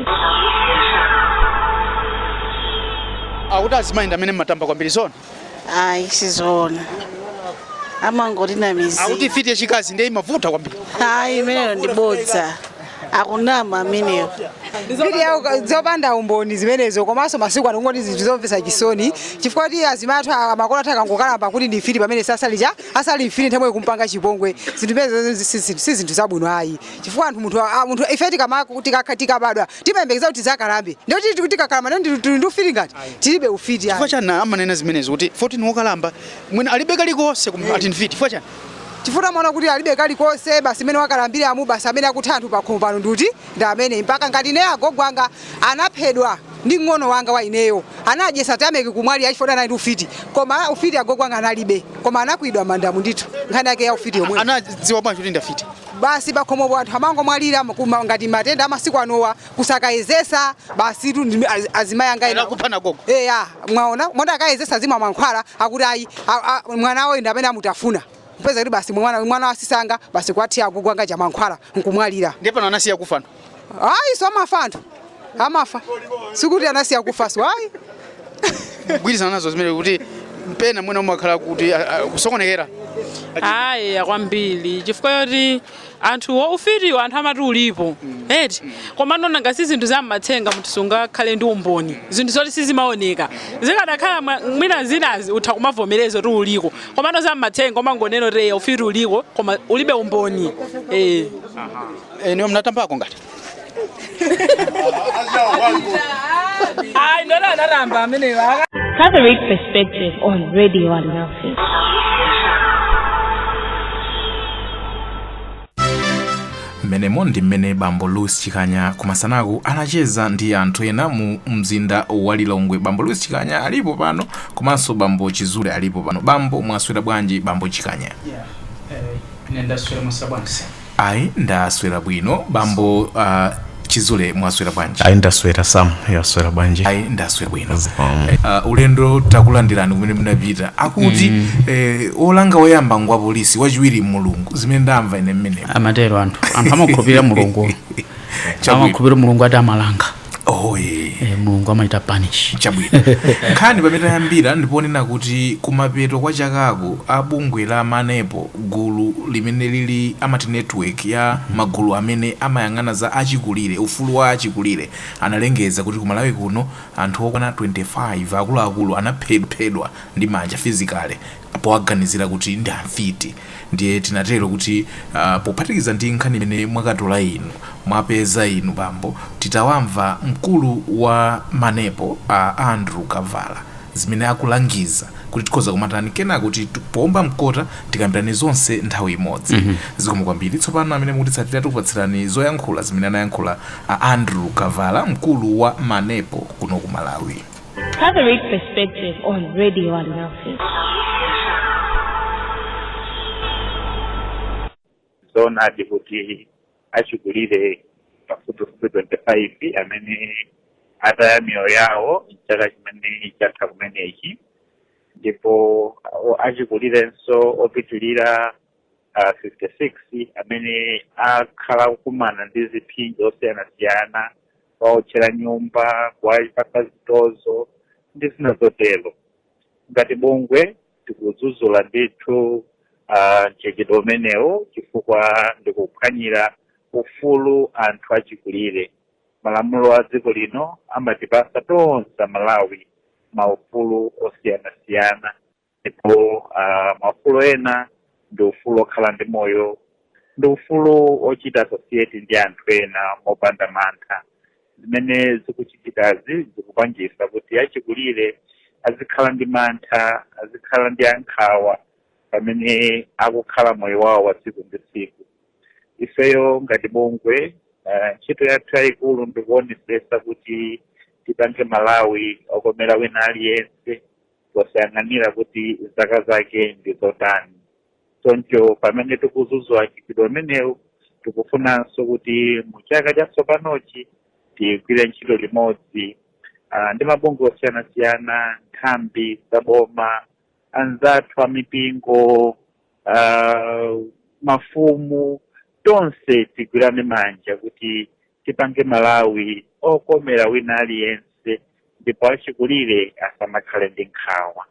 akuti azimayi ndi amene amatamba kwambiri zoona ayi sizoona amangoti namizira akuti mfiti yachikazi ndiye imavuta kwambiri ayi imeneyo ndi bodza akunama ameneyo mbiri yawo zopanda umboni zimenezo komanso masiku ano kungoti zinthu zomvetsa chisoni chifukwa kuti azimai athu a- makolo athu akangokalamba kuti ndi mfiti pamene asali asali mfiti nthawi zambiri kumpanga chipongwe zinthu zimenezo si- si si zinthu zabwino ayi chifukwa anthu munthu a- munthu ife tikama- tikakha- tikabadwa timayembekeza kuti tizakalamba ndio tili tikuti tikakalamba ndio ndi- tili ndi ufiti ngati tilibe ufiti chifukwa ayi. chani amanena zimenezo kuti 14 wokalamba mwina alibe kalikonse koma ati ndi mfiti chifukwa chani chifukwa amaona kuti alibe kalikonse basi mmene akalambiramu basi amene akutha anthu pakhomo pano ndi uti ndi amene mpaka ngati ineyo agogo anga anaphedwa ndi mng'ono wanga wa ineyo anadyesa tameki kumwali achifota anali ndi ufiti koma ufiti agogo anga analibe koma anakwidwa mandamu ndithu nkhani yake ya ufiti yomwe anadziwa bwanji kuti ndi afiti basi pakhomopo anthu amangomwalira kuma- ngati matenda amasiku anowa osakayezetsa basi tu ndi- az- azimayi anga ena- Anawapha agogo. eya mwaona moti akayezesa zima mankhwala akuti ayi a- a- mwana wawo ndi amene amutafuna kupeza kuti basi mwana mwana wa azisi anga basi kuwathira agogo anga mankhwala nkumwalira Ndiye pano anasiya kufa. ayi so amafa anthu amafa sikuti anasiya kufa so ayi kugwirizana nazo zimene kuti pena mwina umakhala kuti a- a- kusokonekera ayi kwambiri chifukwa yoti anthu ufitiwo anthu amati ulipo eti komano nanga si zinthu zammatsenga munthu sungakhale ndi umboni zinthu zoti sizimaoneka zikadakhala mwa- mwina zinazake utha kumavomereza kuti uliko komano zammatsenga umangonena kuti eya ufiti uliko koma ulibe umboni eh Eh, niwe mnatambako ngati? Ai, ndona anaramba ameneyo. Catholic Perspective on Radio Alinafe. mmenemo ndi mmene bambo luis chikanya kumasanako anacheza ndi anthu ena mu mzinda wa lilongwe bambo louis chikanya alipo pano komanso bambo chizule alipo pano bambo mwaswera bwanji bambo chikanya Yeah. Eh, ine ndaswera mwaswera bwanji. Ayi ndaswera bwino bambo uh, chizule mwaswera bwanji ayi ndaswera sam mwaswera bwanji ayi ndaswera bwino uh, ulendo takulandirani kumene munapita akuti mm. eh, wolanga woyamba ngwa polisi wachiwiri mulungu zimene ndamva ine mmene amatero anthu anthu amakhulupirira mulungu Chabwino. amakhulupirira mulungu ati amalanga oh, yeah. e, mulungu amachita punish chabwino nkhani pamene tayambira ndiponena kuti kumapeto kwa chakako a bungwe la manepo gulu limene lili amati network ya magulu amene amayang'ana za achikulire ufulu wa achikulire analengeza kuti kumalawi kuno anthu okwana 25 akuluakulu anaphedwa ndi manja physically powaganizira kuti ndi amfiti ndiye tinatero kuti uh, pophatikiza ndi nkhani imene mwakatola inu mwapeza inu bambo titawamva mkulu wa manepo a uh, andrew kavala zimene akulangiza kuti tikhoza kumatani kenaka kuti poomba mkota tikambirane zonse nthawi imodzi mm -hmm. zikomo kwambiri tsopano amene mukutitsatira tikupatsirani zoyankhula zimene anayankhula a andrew kavala mkulu wa manepo kuno ku malawi Catholic Perspective on Radio Alinafe. zoonadi kuti achikulire pafupifupi 25 amene ataya miyoyo yawo mchaka chimene chatha kumenechi ndipo o- achikulirenso opitirira ah, 56 amene akhala kukumana ndi ziphinjo zosiyanasiyana kuwaotchera nyumba kuwapatsa zitonzo ndi zina zotero ngati bungwe tikudzudzula ndithu uh, mchitidwe umenewo chifukwa ndikuphwanyira ufulu anthu achikulire malamulo a dziko lino amatipasa tonse amalawi maufulu osiyanasiyana ndipo uh, maufulu ena ndi ufulu okhala ndi moyo ndi ufulu ochita associate ndi anthu ena mopanda mantha zimene zikuchitikazi zikupangisa kuti achikulire azikhala ndi mantha azikhala ndi nkhawa pamene akukhala moyo wawo wa tsiku ndi tsiku ifeyo ngati bungwe uh, ntchito yathu yayikulu ndikuonesesa kuti tipange malawi okomera wina aliyense posayang'anira kuti zaka zake ndi zotani choncho pamene tikudzudzula mchitidwe umenewu tikufunanso kuti mu chaka chatsopanochi tigwire ntchito limodzi uh, ndi mabungwe osiyanasiyana nthambi za boma anzathu a mipingo uh, mafumu tonse tigwirane manja kuti tipange malawi okomera wina aliyense ndipo achikulire asamakhale ndi nkhawa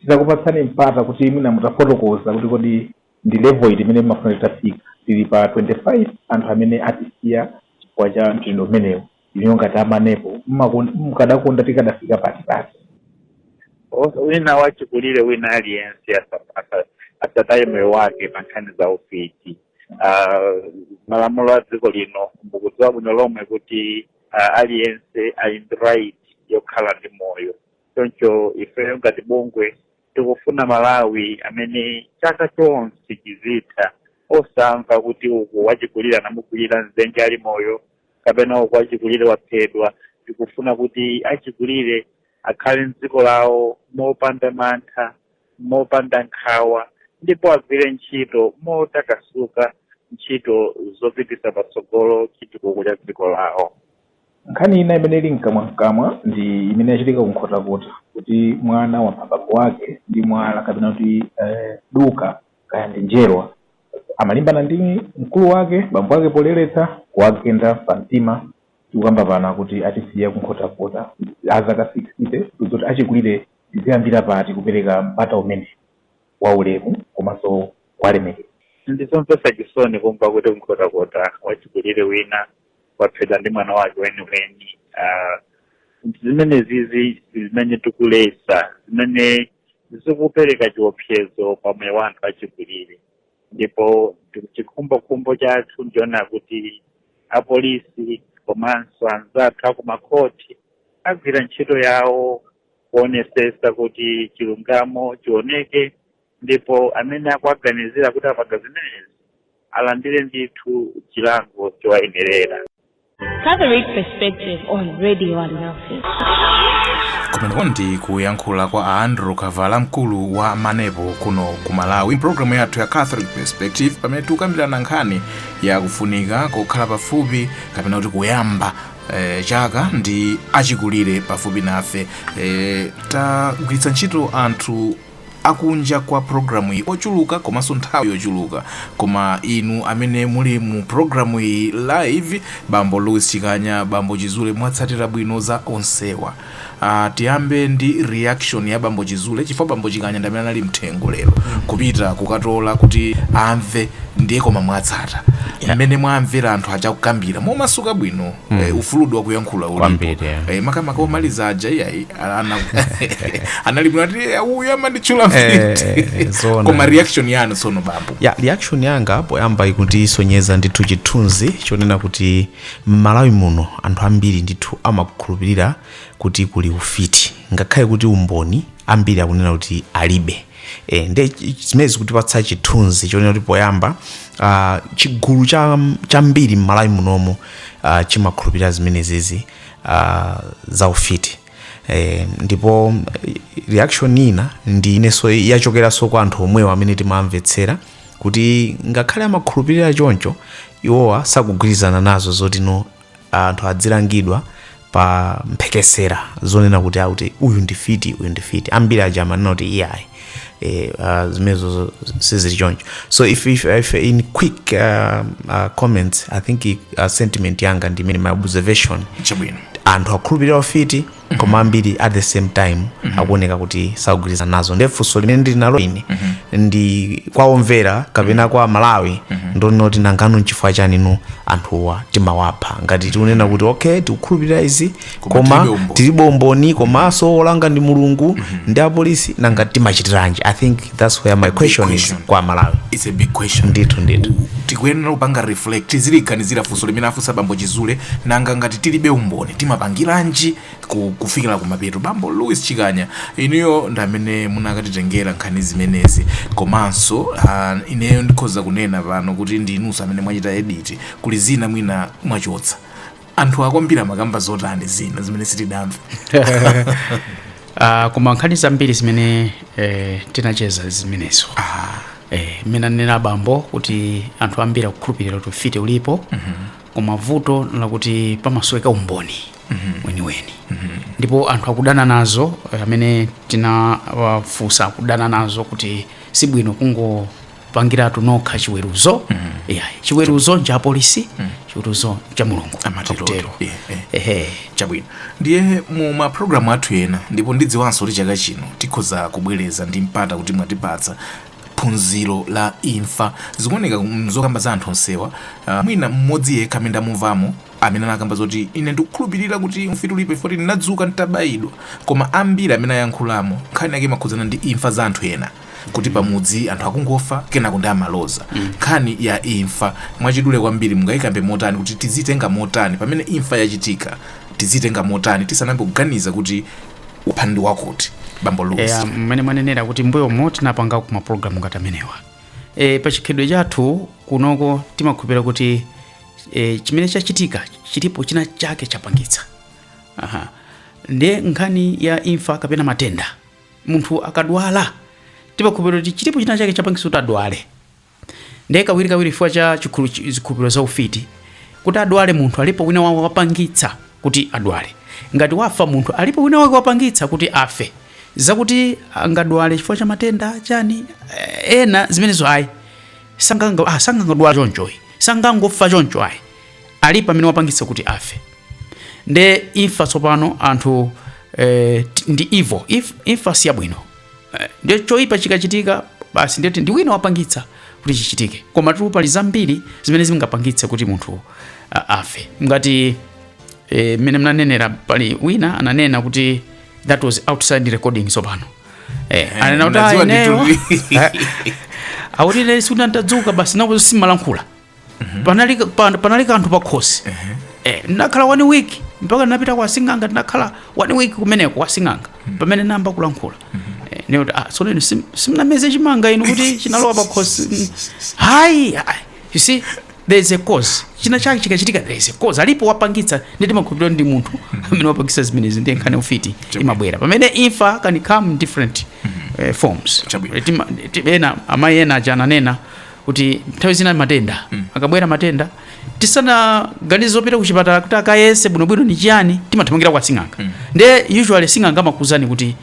titakupatsani mpata kuti mwina mutafotokoza kuti kodi ndi level iti imene mumafuna titafika tili pa 25 anthu amene atisiya chifukwa cha mchitidwe umenewu inuyo ngati amanepo mmakon- mukadakonda tikadafika pati pati Onse- wina wachikulire wina aliyense asa- asa- asataye moyo wake pa nkhani za ufiti uh, malamulo a dziko lino mukudziwa bwino lomwe kuti uh, aliyense ali ndi right yokhala ndi moyo choncho ifeyo ngati bungwe tikufuna malawi amene chaka chonse chizitha osamva kuti uku wachikulire anamukwirira mdzenje ali moyo kapena uku wachikulire waphedwa tikufuna kuti achikulire akhale mdziko lawo mopanda mantha mopanda nkhawa ndipo agwire ntchito motakasuka ntchito zopititsa patsogolo chitukuko cha dziko lawo. Nkhani ina imene ili mkamwamkamwa ndi imene yachitika ku Nkhotakota kuti mwana wapha bambo wake ndi mwala kapena kuti eh, duka kaya ndi njerwa amalimbana ndi mkulu wake bambo wake poleretsa kuwagenda pa mtima tikukamba pano akuti atisiya ku Nkhotakota azaka 60 kodi achikulire Tiziyambira pati kupereka mpata umenewu waulemu komanso kuwalemekeza? Ndi zomvetsa chisoni kumva kuti ku Nkhotakota wachikulire wina waphedwa ndi mwana wake weniweni. Zimenezizi ndi zimene tikuletsa, zimene zikupereka chiopsezo pa moyo wa anthu achikulire. Ndipo chikhumbokhumbo chathu ndi choona kuti apolisi komanso anzathu a kumakhoti agwira ntchito yawo. kuonesesa kuti chilungamo chioneke ndipo amene akuwaganizira kuti apanga zimenezi alandire ndithu chilango chowayenerera Catholic Perspective on Radio Alinafe. kumeneko ndi kuyankhula kwa a andrew kavala mkulu wa manepo kuno ku malawi mpulogalamu yathu ya catholic perspective pamene tikukambirana nkhani yakufunika kokhala pafupi kapena kuti kuyamba eh, chaka ndi achikulire pafupi nafe eh, tagwiritsa ntchito anthu akunja kwa programu iyi ochuluka komanso nthawi yochuluka koma inu amene muli mu programu iyi live bambo louis chikanya bambo chizule mwatsatira bwino za onsewa Aaa tiyambe ndi reaction ya bambo Chizule chifukwa bambo Chikanya ndamene anali mthengo lero kupita kukatola kuti amve ndiye koma mwatsata Yeah. mmene mwamvera anthu aja kukambira momasuka bwino eh, ufulu wakuyankhula ulipo Kwambiri, yeah. eh, makamaka omaliza aja iyayi ana- anali bwino ati "Eh, uyu amanditchula Eh, mfiti." eh, eh, zoona. koma reaction yanu tsono bambo ya reaction yanga poyamba ikuti isonyeza ndithu chithunzi chonena kuti M'Malawi muno anthu ambiri ndithu amakhulupirira kuti kuli ufiti ngakhale kuti umboni ambiri akunena kuti alibe. E, nde zimene zikutipatsa chithunzi chonena kuti poyamba uh, chigulu chambiri cha m'Malawi munomo uh, chimakhulupirira zimenezizi uh, za ufiti e, ndipo reaction ina ndi ineso yachokeranso kwa anthu omwewo amene timawamvetsera kuti ngakhale amakhulupirira choncho iwowa sakugwirizana nazo zoti no anthu adzilangidwa pa mphekesera zonena kuti akuti uyu ndi fiti uyu ndi fiti ambiri aja amanena kuti iyayi eh, uh, zimenezo sizili choncho so if, if, if in quick uh, uh, comments i think uh, sentiment yanga ndi imeneyi my observation chabwino anthu akhulupirira ufiti koma ambiri at the same time akuoneka kuti sakugwirizana nazo ndiye funso limene ndili nalo ine ndi kwa omvera kapena kwa aMalawi ndonena kuti nangano nchifukwa chanino anthuwa timawapha ngati tikunena kuti okay tikukhulupirira izi Koma koma tilibe umboni. tilibe umboni komanso olanga ndi Mulungu ndi apolisi nanga timachitiranji i think that's where my question is kwa aMalawi it's a big question ndithu ndithu tikuyenera kupanga reflect tizilingalira funso limene afunsa bambo Chizule nanga ngati tilibe umboni timapangiranji ku- kufikira kumapeto bambo Louis Chikanya inuyo ndi amene munakatitengera nkhani zimenezi komanso ah, ineyo ndikhoza kunena pano kuti ndi inuso amene mwachita edit kuli zina mwina mwachotsa anthu ambiri amakamba zotani zina zimene sitidamve Ah, koma nkhani zambiri zimene eh, tinacheza zimenezo eh, mmene anena abambo kuti anthu ambiri akukhulupirira kuti ufiti ulipo koma vuto lakuti pamasoweka umboni weniweni ndipo anthu akudana nazo eh, amene tinawafunsa akudana nazo kuti sibwino kungo pangiratu nokha chiweruzo iyayi chiweruzo ncha apolisi chiweruzo cha Mulungu Amatero. Akutero. Eh, eh. Ehe. chabwino ndiye mu mapulogalamu athu ena ndipo ndidziwanso kuti chaka chino tikhoza kubwereza ndi mpata kuti mwatipatsa phunziro la imfa zikuoneka mzokamba za anthu onsewa ah, mwina mmodzi yekha amene ndamumvamo amene anakamba zoti ine ndikukhulupirira kuti ufiti ulipo chifoti ndinadzuka nditabayidwa koma ambiri amene ayankhulamo nkhani yake imakhudzana ndi imfa za anthu ena kuti pamudzi anthu akungofa kenako ndi amaloza nkhani ya imfa mwachidule kwambiri mungayikambe motani kuti tizitenga motani pamene imfa yachitika tizitenga motani tisanambe kuganiza kuti wapha ndi wakuti bambo luzi eya mmene mwanenera kuti mbuyomo tinapangako mapulogalamu ngati amenewa e, pa chikhalidwe chathu kunoko timakhulupirira kuti e, chimene chachitika chilipo china chake chapangitsa Aha. ndiye nkhani ya imfa kapena matenda munthu akadwala timakhulupirira kuti chilipo china chake chapangitsa kuti adwale ndiye kawirikawiri chifukwa cha chikhulu- chi- zikhulupiriro za ufiti kuti adwale munthu alipo wina wake wapangitsa kuti adwale ngati wafa munthu alipo wina wake wapangitsa kuti afe zakuti angadwale chifukwa cha matenda chani eh, ena zimenezo ayi sanganga ah, sangangodwala chonchoyi sangangofa choncho ayi alipo amene wapangitsa kuti afe nde imfa tsopano anthu eh, t- ndi evil If, imfa si yabwino eh, nde choyipa chikachitika basi nde kuti ndi wina wapangitsa kuti chichitike komatu pali zambiri zimene zingapangitse kuti munthu a- afe ngati eh, mmene mnanenera pali wina ananena kuti that was outside recording tsopano eh, ananena kuti "Ah, mnadziwa ineyo ndithu." akuti ine sikuti ndadzuka basi nakuti simalankhula panali, pa, panali kanthu pakhosi eh, ndinakhala one week mpaka ndinapita kwa sing'anga ndinakhala one week kumeneko kwa sing'anga pamene nayamba kulankhula eh, nikuti ah, so lino sim- simnameze chimanga inu kuti chinalowa pakhosi Mm. hayi hayi. you see there is a cause china chake chikachitika there is a cause alipo wapangitsa nde timakhulupirira ndi munthu amene wapangitsa zimenezi ndiye nkhani ufiti imabwera pamene imfa can come in different eh, forms Chabwino. Eh, tima- ti- ena amayi ena aja ananena kuti nthawi zina matenda akabwera matenda tisanaganize zopita kuchipatala kuti akayese bwinobwino ni chiyani timathamangira kwa sing'anga nde usually sing'anga amakuuzani kuti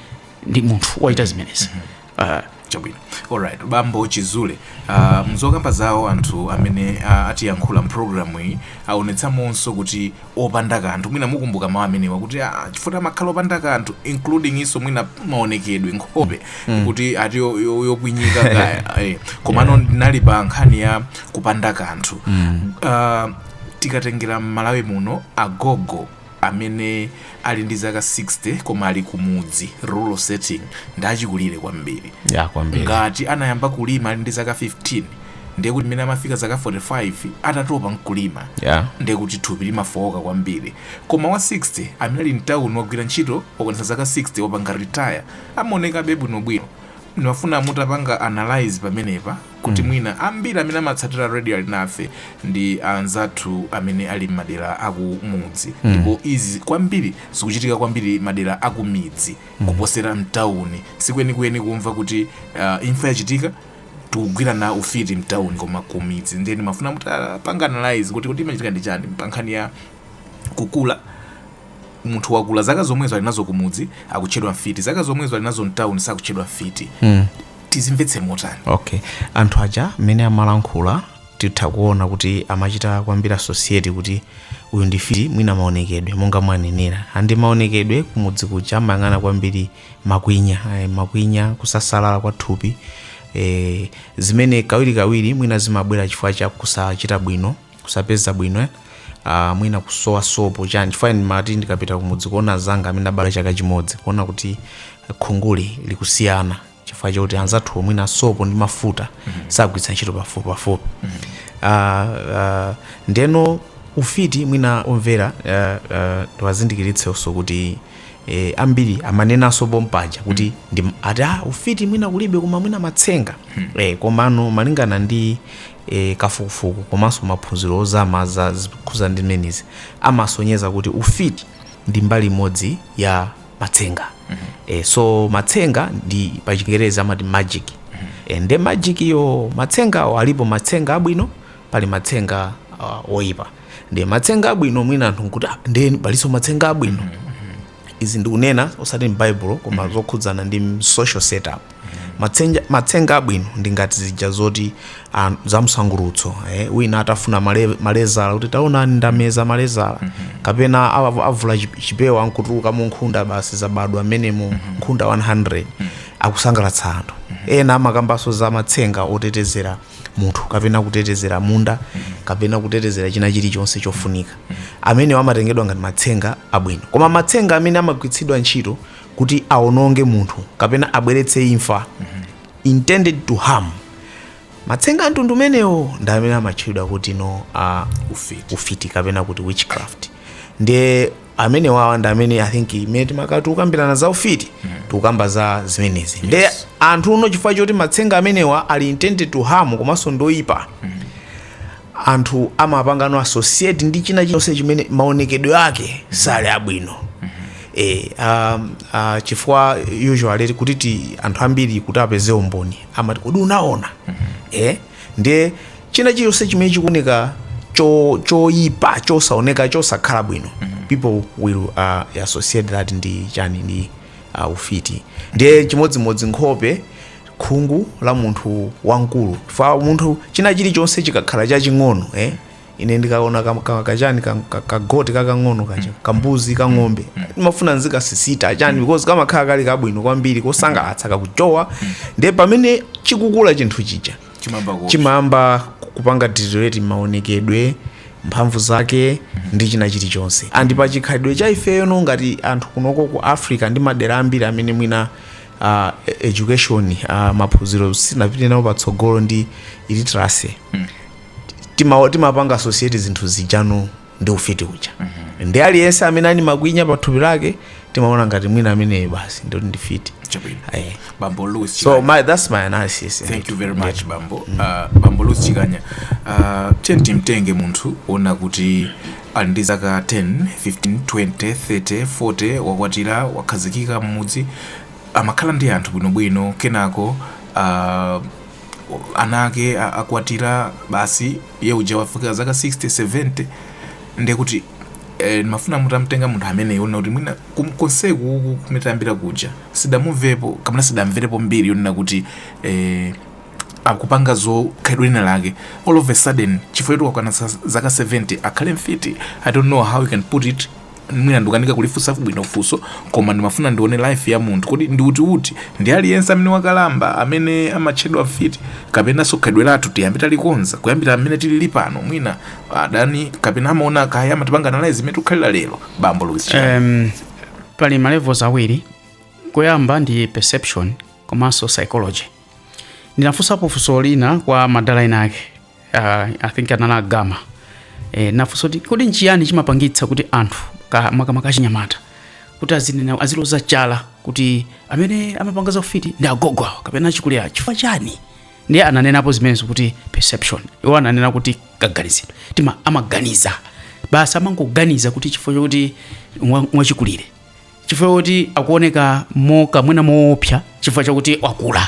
ndi munthu wachita zimenezi Ah, chabwino alright bambo Chizule uh, mzokamba zawo anthu amene uh, atiyankhula mpulogalamu iyi aonetsamonso kuti opanda kanthu mwina mukumbuka mawu amenewa kuti ah, chifukwa amakhala opanda kanthu including iso mwina maonekedwe nkhope mm. kuti ati yo- yo- yokwinyika kaya eh. komano yeah. ndinali pa nkhani ya kupanda kanthu mm. uh, tikatengera m'Malawi muno agogo amene ali ndi zaka 60 koma ali kumudzi rural setting ndi achikulire kwambiri eya kwambiri ngati anayamba kulima ali ndi zaka 15 ndiye kuti mmene amafika zaka 45 atatopa nkulima Yeah. ndiye kuti thupi limafowoka kwambiri koma wa 60 amene ali mtawuni wagwira ntchito wakwanitsa zaka 60 wapanga retire amaonekabe bwinobwino ndimafuna mutapanga analyze pamenepa kuti mwina ambiri amene amatsatira radio ali nafe ndi anzathu amene ali m'madera akumudzi ndipo izi kwambiri zikuchitika kwambiri madera akumidzi kuposera mtawuni sikwenikweni kumva kuti uh, imfa yachitika tikugwirana ufiti mtauni koma kumidzi ndiye ndimafuna mutapanga analyze kuti kuti imachitika ndi chani pa nkhani ya kukula munthu wakula zaka zomwezo ali nazo kumudzi akutchedwa mfiti zaka zomwezo ali nazo mtauni sakutchedwa mfiti mm. tizimvetse motani okay anthu aja mmene amalankhula titha kuona kuti amachita kwambiri associate kuti uyu ndi mfiti mwina maonekedwe monga mwanenera andi maonekedwe kumudzi kuja amayang'ana kwambiri makwinya eh, makwinya kusasalala kwa thupi eh, zimene kawirikawiri mwina zimabwera chifukwa cha kusachita bwino kusapeza bwino eh, ah, mwina kusowa sopo chani chifukwa ine ndimati ndikapita kumudzi kuona anzanga amene abala chaka chimodzi kuona kuti khunguli likusiyana chifukwa chakuti anzathu mwina sopo ndi mafuta sagwiritsa ntchito pafupi pafupi Ah, ah, ndeno ufiti mwina omvera ah, ah, tiwazindikiritsenso kuti eh, ambiri amanenanso pompaja kuti mm. ndi ati ah, ufiti mwina kulibe koma mwina matsenga mm. eh, komano malingana ndi eh, kafukufuku komanso maphunziro ozama za zikhuza zimenezi amasonyeza kuti ufiti ndi mbali imodzi ya matsenga mm -hmm. eh, so matsenga ndi pachingerezi amati magic mm -hmm. eh, nde magic-yo matsengawo alipo matsenga abwino pali matsenga uh, oyipa ndi matsenga abwino mwina anthu nkuti "Ah, ndiye palinso matsenga abwino izi ndikunena osati m'baibulo koma zokhudzana ndi m- social setup Matsenja- matsenga abwino ndi ngati zija zoti ah, za msangulutso eh, wina atafuna male- malezala kuti taonani ndameza malezala kapena awa- avula chip- chipewa nkutulukamo nkhunda basi zabadwa mmenemo nkhunda 100 akusangalatsa anthu ena amakambanso za matsenga otetezera munthu kapena kutetezera munda kapena kutetezera china chilichonse chofunika amenewo amatengedwa ngati matsenga abwino koma matsenga amene amagwiritsidwa ntchito kuti awononge munthu kapena abweretse imfa intended to harm matsenga a mtundu umenewo ndi amene amatchedwa kutino uh, ufiti kapena kuti witchcraft ndiye amenewawa ndi amene i think imene timakhala tikukambirana za ufiti tikukamba za zimenezi nde anthuno chifukwa choti matsenga amenewa ali intended to harm komanso ndoyipa anthu amapangano associate ndi china chonse chimene maonekedwe ake sali abwino e, um, uh, chifukwa usually kuti ti anthu ambiri kuti apeze umboni amati kodi unaona e, Ndiye china chilichonse chimene chikuoneka cho- choyipa chosaoneka chosakhala bwino people will associate that ndi chani ndi uh, ufiti ndiye chimodzimodzi nkhope khungu la munthu wamkulu fa munthu china chilichonse chikakhala chaching'ono eh? ine ndikaona kam- ka- kachani kam- ka- ka goat kakang'ono kacha kambuzi kang'ombe ndimafuna ndizikasisita chani because kamakhala kali kabwino kwambiri kosangalatsa kakuchowa ndiye pamene chikukula chinthu chija chimamba ku chimayamba kupanga deteriorate maonekedwe mphamvu zake ndi china chilichonse and pa chikhalidwe cha ifeyo no ngati anthu kunoko ku africa ndi madera ambiri amene mwina uh, education uh, maphunziro sinapite nawo patsogolo ndi illiteracy tima timapanga associate zinthu zija no ndi ufiti uja ndi aliyense amene ali makwinya pa thupi lake timaona ngati mwina ameneyo basi ndithu ndi mfiti Chabwino. Eh. bambo louis so Chikanya. my, that's my analysis thank you very much bambo uh, bambo louis chikanya uh, tiyeni timtenge munthu wonena kuti ali ndi zaka 10 15 20 30 40 wakwatira wakhazikika mmudzi amakhala ndi anthu bwinobwino kenako uh, ana ake a- akwatira basi iye uja wafika zaka 60 70 ndiye kuti eh, ndimafuna mutamtenga munthu amene wonena kuti mwina kum- konseku uku kumene tayambira kuja sitidamumvepo kapena sitidamverepo mbiri yonena kuti eh, akupanga za khalidwe lina lake all of a sudden chifukwa choti wakwana sa- zaka 70 akhale mfiti i don't know how you can put it mwina ndikukanika kulifunsa bwino funso koma ndimafuna ndione life ya munthu kodi ndi uti uti ndi aliyense amene wakalamba amene amatchedwa mfiti kapena so khalidwe lathu tiyambe talikonza kuyambira amene tilili pano mwina adani kapena amaona kaya amatipanga analyze mmene tikukhalira lero bambo Louis Chikanya. um, pali ma levels awiri kuyamba ndi perception komanso psychology ndinafunsapo funso lina kwa madala ena ake uh, i think anali a Gama eh, ndinafunsa kuti kodi nchiyani chimapangitsa kuti anthu ka- makamaka achinyamata kuti azinena aziloza chala kuti amene amapanga za ufiti ndi agogo awo kapena achikulire chifukwa chani ndiye ananenapo zimenezo kuti perception iwo ananena kuti kaganizidwe tima amaganiza basi amangoganiza kuti chifukwa chokuti mwa- wachikulire chifukwa chakuti akuoneka moka mwina moopsa chifukwa chakuti wakula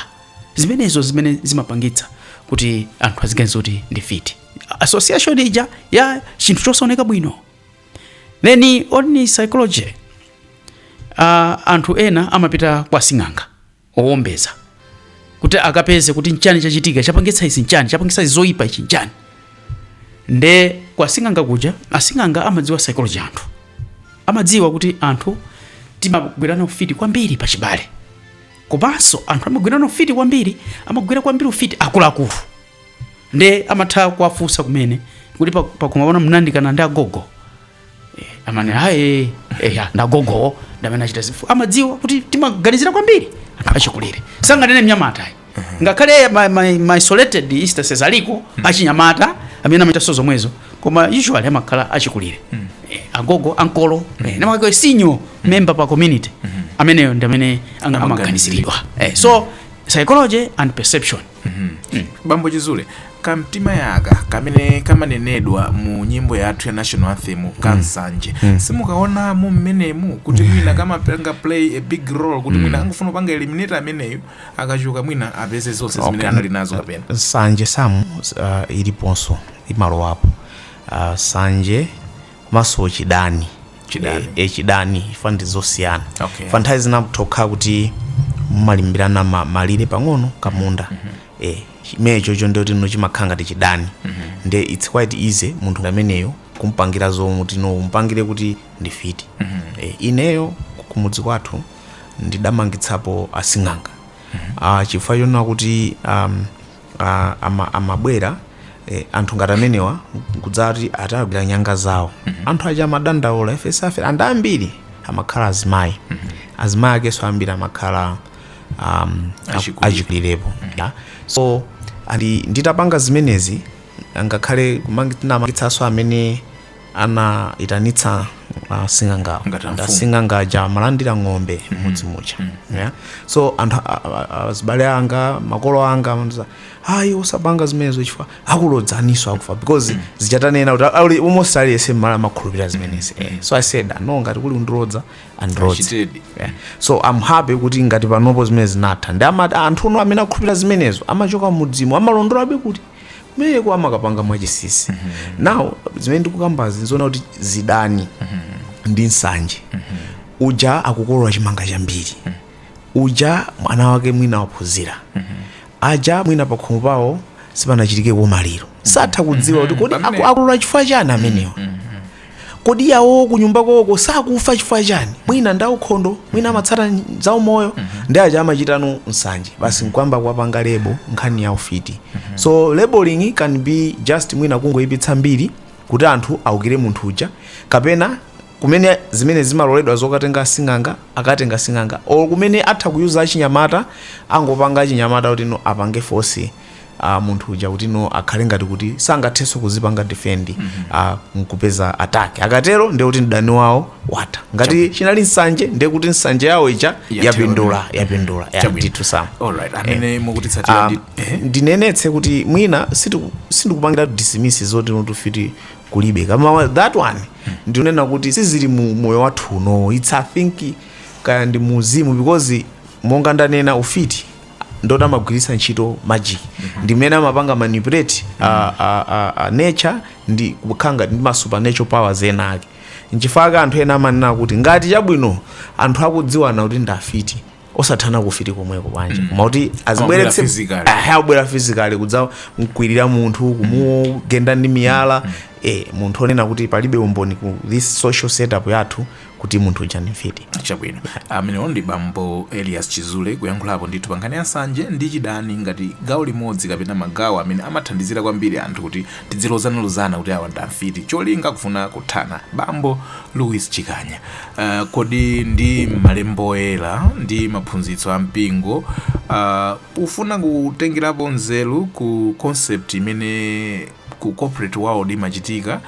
zimenezo zimene zimapangitsa kuti anthu aziganiza kuti ndi mfiti association ija ya chinthu chosaoneka bwino then on the psychology uh, anthu ena amapita kwa sing'anga owombeza kuti akapeze kuti nchani chachitika chapangitsa izi nchani chapangitsa izi zoyipa ichi nchani nde kwa sing'anga kuja asing'anga amadziwa psychology anthu amadziwa kuti anthu timagwirana ufiti kwambiri pa chibale komanso anthu amagwirana ufiti kwambiri amagwira kwambiri ufiti akuluakulu nde amatha kuwafunsa kumene kuti pa- pakhomo panu munayandikana ndi agogo Eh, amati aye eya ndagogo ndamene achita izi fu amadziwa kuti timaganizira kwambiri achikulire sanganene mnyamata ayi ngakhale ma- ma- ma isolated instances aliko achinyamata amene amachitanso zomwezo koma usually amakhala achikulire Eh, agogo ankolo eh, namakake senior member pa community ameneyo ndi amene anga- amaganiziridwa Eh, so psychology and perception Bambo Chizule, kamtima aka kamene kamanenedwa mu nyimbo yathu ya national anthem ka nsanje simukaona mu mmenemu kuti mwina kamapanga play a big role kuti mwina angofuna kupanga eliminate ameneyo akachoka mwina apeze zonse zimene Okay. anali nazo kapena sanje samu uh, iliponso imalowapo uh, sanje komanso chidani Chidani. Eh, eh, chidani ifa ndi zosiyana Okay. fa nthawi zina itha kukhala kuti mumalimbirana ma- malire pang'ono kamunda eh, chimene chocho ndi choti no chimakhala ngati chidani nde its quite easy munthu ameneyo kumpangira zoti no umpangire kuti ndi mfiti eh, ineyo kumudzi kwathu ndidamangitsapo asing'anga ah, chifukwa chonena kuti um, ah, ama- amabwera eh, anthu ngati amenewa nkudzati atagwira nyanga zawo anthu aja amadandaula ife suffer and ambiri amakhala azimayi azimayi akenso ambiri amakhala um, Achikulire. achikulirepo yeah. so nditapanga zimenezi ngakhale kumangitsanso amene anaitanitsa uh, asing'angawo Ngati amfumu. Nde asing'anga aja amalandira ng'ombe mmudzi muja yeah? so anthu a- a- a- azibale anga makolo anga amandiuza ayi usapange zimenezo chifukwa akulodza iwenso akupha because zija tanena kuti ali almost aliyese mmala amakhulupirira zimenezi eh. so i said no ngati kuli kundilodza andilodze Achitedi. yeah. so am happy kuti ngati panopo zimene zinatha ndi amati anthu no amene akhulupirira zimenezo amachoka m'mudzimu amalondolabe kuti kumeneko amakapanga mwachinsinsi now zimene ndikukambazi nzoona kuti zidani ndi nsanje uja akukolola chimanga chambiri uja mwana wake mwina waphunzira aja mwina pakhomo pawo sipanachitike kamaliro satha kudziwa kuti kodi aku- akolola chifukwa chani amenewa kodi yawowo kunyumba kwawoko sakufa chifukwa chani mwina ndi aukhondo mwina amatsata zaumoyo ndi aja amachitano nsanje basi nkuyamba kuwapanga label nkhani ya ufiti so labeling can be just mwina kungoyipitsa mbiri kuti anthu aukire munthu uja kapena kumene zimene zimaloledwa zokatenga asing'anga akatenga asing'anga or kumene atha kuyuza achinyamata angopanga achinyamata kuti no apange force a munthu uja kuti no akhale ngati kuti sangathenso kuzipanga defend a nkupeza attack akatero ndiye kuti mdani wawo watha ngati chinali nsanje ndiye kuti nsanje yawo ija Yatero. yapindula yapindula ya Chabwino. ndithu Sam alright amene mukutitsatira Ah, ndi ehe. ndinenetse kuti mwina sitiku- sindikupangira dismiss zoti no ufiti kulibe koma wa- that one ndikunena kuti sizili mu moyo wathu uno it's I think kaya ndi muuzimu because monga ndanena ufiti ndoti amagwiritsa ntchito magic ndi mmene amapanga manipulate a, a, a, a nature ndi kukhala ngati ndi ma supernatural powers ena ake nchifukwa chake anthu ena amanena kuti ngati chabwino anthu akudziwana kuti ndi afiti osathana kufiti komweko bwanji koma kuti azibweretse physically. Aha, abwera physically kudzamkwirira munthu kumugenda ndi miyala eh, munthu onena kuti palibe umboni ku this social setup yathu kuti munthu uja ndi mfiti. Chabwino. Amenewo ndi bambo Elias Chizule kuyankhulapo ndithu pa nkhani ya nsanje ndi chidani ngati gawo limodzi kapena magawo amene amathandizira kwambiri anthu kuti tidzilozanalozana kuti awa ndi amfiti cholinga kufuna kuthana. Bambo Louis Chikanya, ah, kodi ndi Malembo Oyera ndi maphunzitso a mpingo, ah, pofuna kutengerapo nzeru ku concept imene ku corporate world imachitika,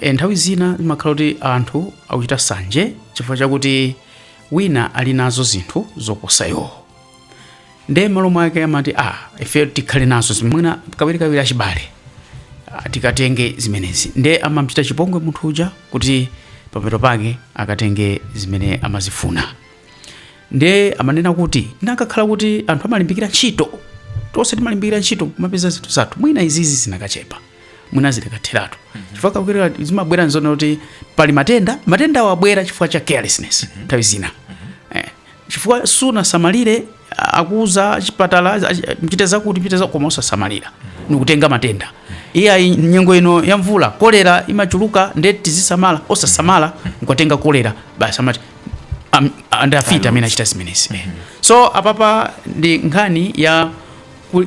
E, nthawi zina zimakhala kuti anthu akuchita sanje chifukwa chakuti wina ali nazo zinthu zoposa iwo nde malo mwake amati a ah, ife tikhale nazo izi mwina kawirikawiri achibale ah, tikatenge zimenezi nde amamchita chipongwe munthu uja kuti pamapeto pake akatenge zimene amazifuna nde amanena kuti anakakhala kuti anthu amalimbikira ntchito tonse timalimbikira ntchito kumapeza zinthu zathu mwina izizi zinakachepa mwina zinakatheratu chifukwa kawirikawiri zimabwera nzona kuti pali matenda matendawo abwera chifukwa cha carelessness nthawi zina Eh, chifukwa sunasamalire a- akuuza chipatala a- a- mchite zakuti mchite za koma osasamalira nikutenga matenda iyayi nyengo ino ya mvula kolera imachuluka nde tizisamala osasamala nkukatenga kolera basi amati am- ndi afiti amene achita zimenezi Eh. so apapa ndi nkhani ya ku-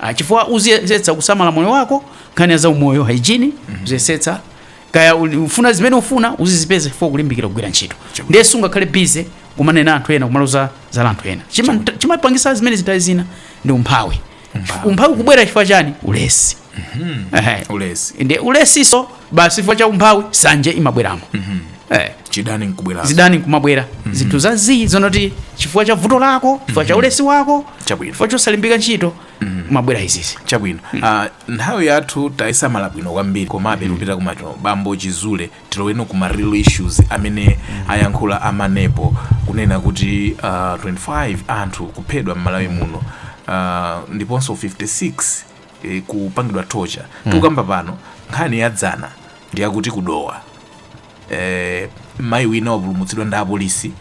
Ah, chifukwa uziyesetsa kusamala moyo wako nkhani ya zaumoyo hygiene mm -hmm. uziyesetsa kaya ufuna zimene ufuna uzizipeza chifukwa kulimbikira kugwira ntchito ndiye sungakhale busy kumanena anthu ena kumaloza zala anthu ena chimapangisa chima zimenezi nthawi zina ndi umphawi umphawi kubwera chifukwa chani ulesi mm -hmm. ulesi ulesiso basi chifukwa cha umphawi sanje imabweramo eh, chidani nkubwera zidani nkumabwera zinthu zazii zonoti chifukwa cha vuto lako chifukwa cha ulesi wako Chabwino. chifukwa chosalimbika ntchito kumabwera izizi chabwino Ah, nthawi yathu tayisamala bwino kwambiri komabe tikupita kumeneko bambo chizule tiloweno kuma real issues amene ayankhula amanepo kunena kuti ah, 25 anthu kuphedwa m'malawi muno Ah, ndiponso 56 e, kupangidwa torture tikukamba pano nkhani ya dzana ndi yakuti kudowa e, mayi wina wapulumutsidwa ndi apolisi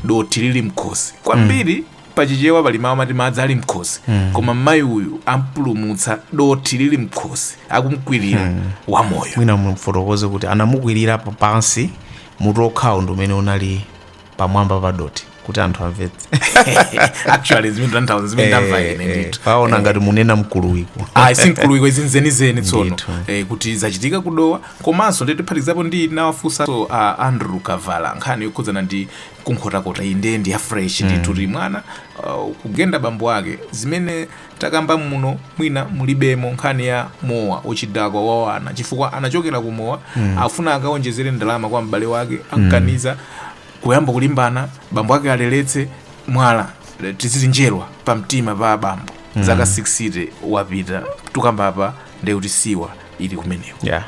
dothi lili mkhosi kwambiri pachichewa pali mawu amati madzi ali mkhosi koma mayi uyu ampulumutsa dothi lili mkhosi akumkwirira wamoyo mwina mumfotokoze kuti anamukwirira pansi mutu wokhawo ndi umene unali pamwamba pa dothi kuti anthu amvetse actually zimene ndamva ine Eh, eh, ndithu paona Eh, ngati munena mkuluwiko ayi si mkuluwiko izi nzenizeni tsono Ndithu. eh, kuti zachitika kudowa komanso ndithu tiphatikizapo ndinawafunsanso uh, andrew kavala nkhani yokhudzana ndi kunkhotakota iyi ndiye ndi ya fresh ndithu kuti mwana uh, kugenda bambo ake zimene takamba muno mwina mulibemo nkhani ya mowa uchidakwa wa ana chifukwa anachokera ku mowa mm. afuna akaonjezere ndalama kwa m'bale wake amkaniza kuyamba kulimbana bambo ake aleletse mwala le- titi njerwa pa mtima pa bambo mm. zaka 60 wapita tukamba apa ndekuti siwa ili kumenewo yeah.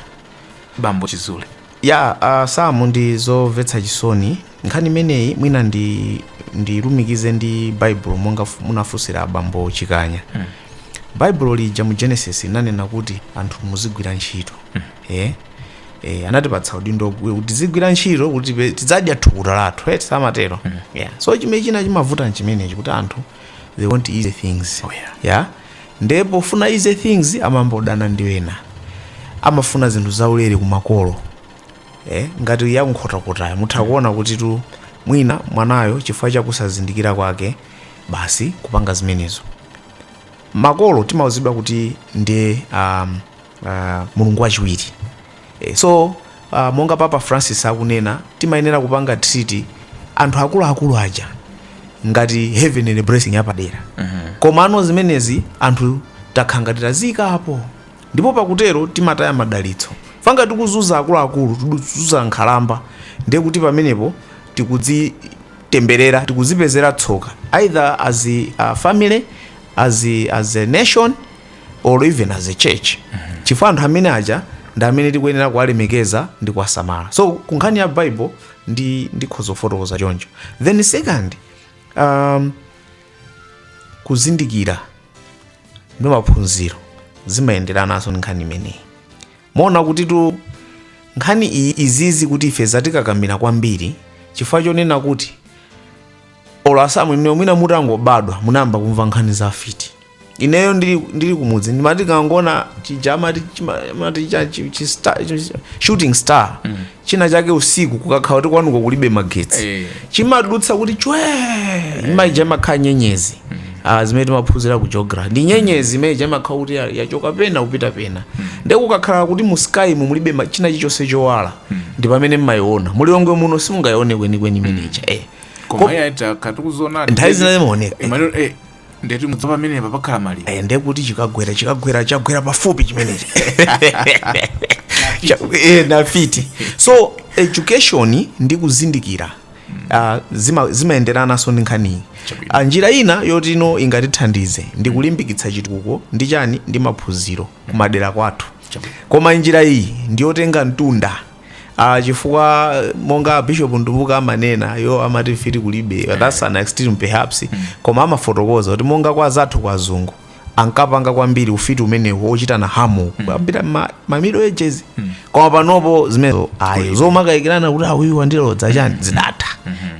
bambo chizule Yeah a Sam ndi zomvetsa chisoni nkhani imeneyi mwina ndi ndilumikize ndi baibulo monga fu- munafunsira abambo chikanya baibulo lija mu genesis linanena kuti anthu muzigwira ntchito eh eh anatipatsa udindo kuti tizigwira ntchito kuti tipe- tizidya thukuta lathu eti samatero yeah so chimene china chimavuta nchimenechi kuti anthu they want easy things oh, yeah. Yeah? nde pofuna easy things amayamba kudana ndi ena amafuna zinthu zaulere kumakolo eh? ngati yakunkhotakotayo mutha kuona kutitu mwina mwanayo chifukwa chakusazindikira kwake basi kupanga zimenezo makolo timauzidwa kuti ndi um, uh, mulungu wachiwiri e, so uh, monga papa francis akunena timayenera kupanga treat anthu akuluakulu aja ngati heavenly blessing yapadera mm-hmm. komano zimenezi anthu takhala ngati tazisiyapo ndipo pakutero timataya madalitso chifukwa ngati tikuzunza akuluakulu tikuzunza nkhalamba ndiye kuti pamenepo tikudzitemberera tikuzipezera tsoka either as a uh, family as a, as a nation or even as a church mm -hmm. chifukwa anthu amene aja ndi amene tikuyenera kuwalemekeza ndi kuwasamala so kunkhani ya bible ndikhoza kufotokoza choncho then second um, kuzindikira ndi maphunziro zimayenderananso ndi nkhani imeneyi muona kutitu nkhani izizi kuti ife zatikakamira kwambiri chifukwa chonena kuti olo a Sam inuyo mwina mutangobadwa munayamba kumva nkhani za afiti ineyo ndili, ndili kumudzi ndimati kangona chija amati chima- amati cha- chi- chi- star- chi- chi- shooting star china chake usiku kukakhala kuti kwanuko kulibe magetsi Eh. chimadutsa kuti chwe imaija imakhala nyenyezi Ah, zimene timaphunzira ku geography ndi nyenyezi imene imakhala kuti ya- yachoka pena kupita pena ndiye kukakhala kuti mu sky mu mulibe ma- china chilichonse chowala ndi pamene mmayiona mu Lilongwe muno simungayione kwenikweni imeneja eh koma iye aita akuti n'zoonadi nthawi zina zimaoneka Eh, maliro eh ndeti mudzamva pamene pa pakhala maliro eh, ndiye kuti chikagwera chikagwera chagwera pafupi chimenechi Cha- eh, na fiti so education ndi kuzindikira ah, zima- zimayenderananso ndi nkhaniyi Chabwino. Ah, njira ina yoti no ingatithandize ndi kulimbikitsa chitukuko ndi chani ndi maphunziro kumadera kwathu Chabwino. koma njira iyi ndiyotenga mtunda Ah, chifukwa eh, monga a bishop Mtumbuka amanena iwo amati mfiti kulibe that's an extreme perhaps koma amafotokoza kuti monga kwa anzathu kwa azungu ankapanga kwambiri ufiti umenewu ochitana hamu apita ma, ma middle ages koma panopo zimenezo ayi zomakayikirana kuti a uyu wandilodza chani zidatha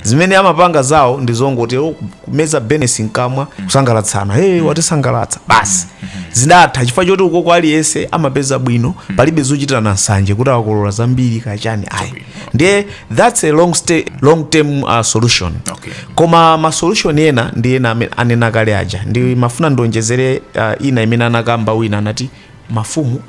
zimene amapanga zawo ndi zongoti "Oh, kumeza benesi mkamwa kusangalatsana hey, watisangalatsa basi zidatha chifukwa choti ukoko aliyense amapeza bwino palibe zochitirana nsanje kuti awa akolola zambiri kaya chani ayi ndiye that's a long, stay, long term uh, solution Okay. koma ma solution ena ndi ena anena kale aja ndimafuna ndionjezere uh, ina imene anakamba wina anati mafumu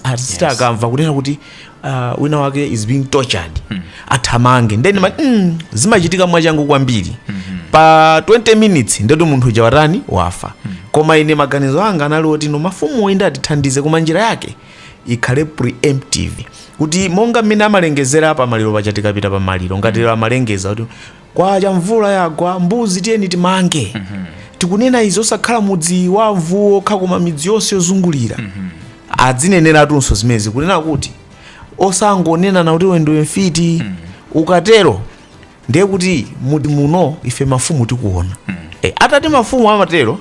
azisita yes. akamva kunena kuti uh, wina wake is being tortured mm. athamange ndeni mm. mm, zimachitika mwachangu kwambiri mm -hmm. pa 20 minutes ndetu munthu uja watani wafa mm. koma ine maganizo anga anali oti no mafumu inde atithandize koma njira yake ikhale preemptive kuti monga mmene amalengezera pa maliro paja tikapita pa maliro ngati mm. amalengeza kuti Kwacha mvula yagwa mbuzi tiyeni timange tikunena izi osakhala mudzi wa amfumuwo okha koma midzi yonse yozungulira adzineneratunso zimenezi kunena kuti osangonenana kuti iwe ndiwe mfiti ukatero ndiye kuti mudzi muno ife mafumu tikuona Eh, atati mafumu amatero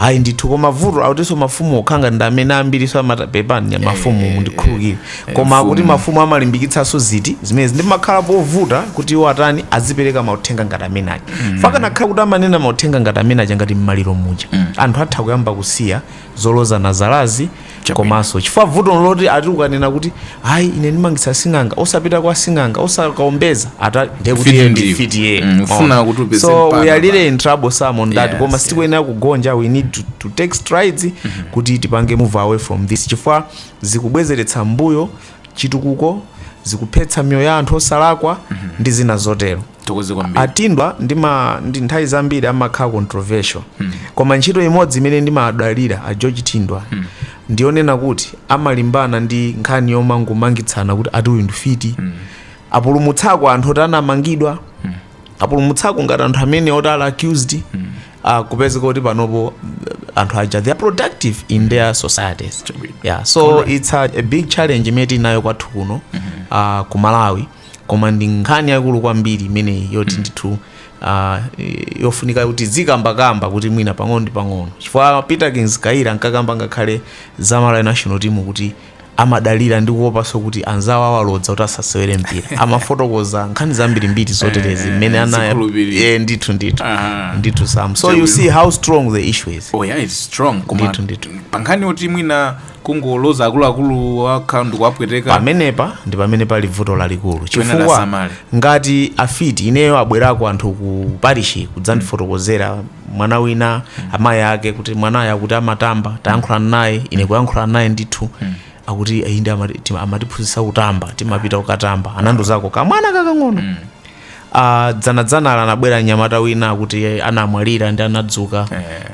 Ayi ndithu koma vuto akutinso mafumu okha ngati ndi amene ambiriso amata... pepani nya mafumu mundikhululukire koma kuti mafumu amalimbikitsanso zinthu zimenezi nde pamakhala povuta kuti iwo atani azipereka mauthenga ngati amene aja chifukwa akanakhala kuti amanena mauthenga ngati amene aja ngati mmaliro muja anthu atha kuyamba kusiya zolozanalozanazi komaso chifukwa vuto ndiloti ati ukanena kuti ayi ine ndimaletsa sing'anga osapita kwa sing'anga osakaombeza ati ndekuti Mfiti iye ndi mfiti iye Mm, ufuna kuti upeze so mpata we are really in trouble Sam on that Yes, koma yes. sitikuyenera kugonja we need to, to take strides kuti tipange move away from this chifukwa zikubwezeretsa mbuyo chitukuko zikuphetsa miyoyo ya anthu osalakwa ndi zina zotero Zikomo kwambiri. a Thindwa ndi ma ndi nthawi zambiri amakhala controversial koma ntchito imodzi imene ndimayamikira a George Thindwa ndiyonena kuti amalimbana ndi nkhani yomangomangitsana kuti ati uyu ndi mfiti apulumutsako anthu oti anamangidwa apulumutsako ngati anthu amene oti ali accused ah, kupezeka kuti panopo eh, anthu aja they are productive in their societies yeah, so it's a, a big challenge imene tinayo kwathu kuno ah, ku Malawi koma ndi nkhani yaikulu kwambiri imeneyi yoti ndithu uh, yofunika kuti tiziikambakamba kuti mwina pang'ono ndi pang'ono chifukwa Peterkins Kayira ankakamba ngakhale za Malawi national team kuti amadalira ndi kuopanso kuti anzawo awalodza kuti asasewere mpira amafotokoza nkhani zambirimbiri zoterezi mmene ana zikhulupiriro. eh, ndithu ndithu Aha. ndithu Sam so you see how strong the issue is oh yeah it's strong koma Ndithu, ndithu. pankhani yoti mwina kungoloza akuluakulu okha ndikuwapweteka pamenepa ndi pamene pali vuto lalikulu chifukwa lasamale. ngati afiti ineyo abwerako anthu ku parishi kudzandifotokozera mwana wina amayi ake kuti mwanayo akuti amatamba tayankhulana naye ine kuyankhulana naye ndithu akuti inde amati- tima- amatiphunzitsa kutamba timapita kukatamba anandiuzako kamwana kakang'ono a dzanadzanali anabwera mnyamata wina akuti anamwalira ndi anadzuka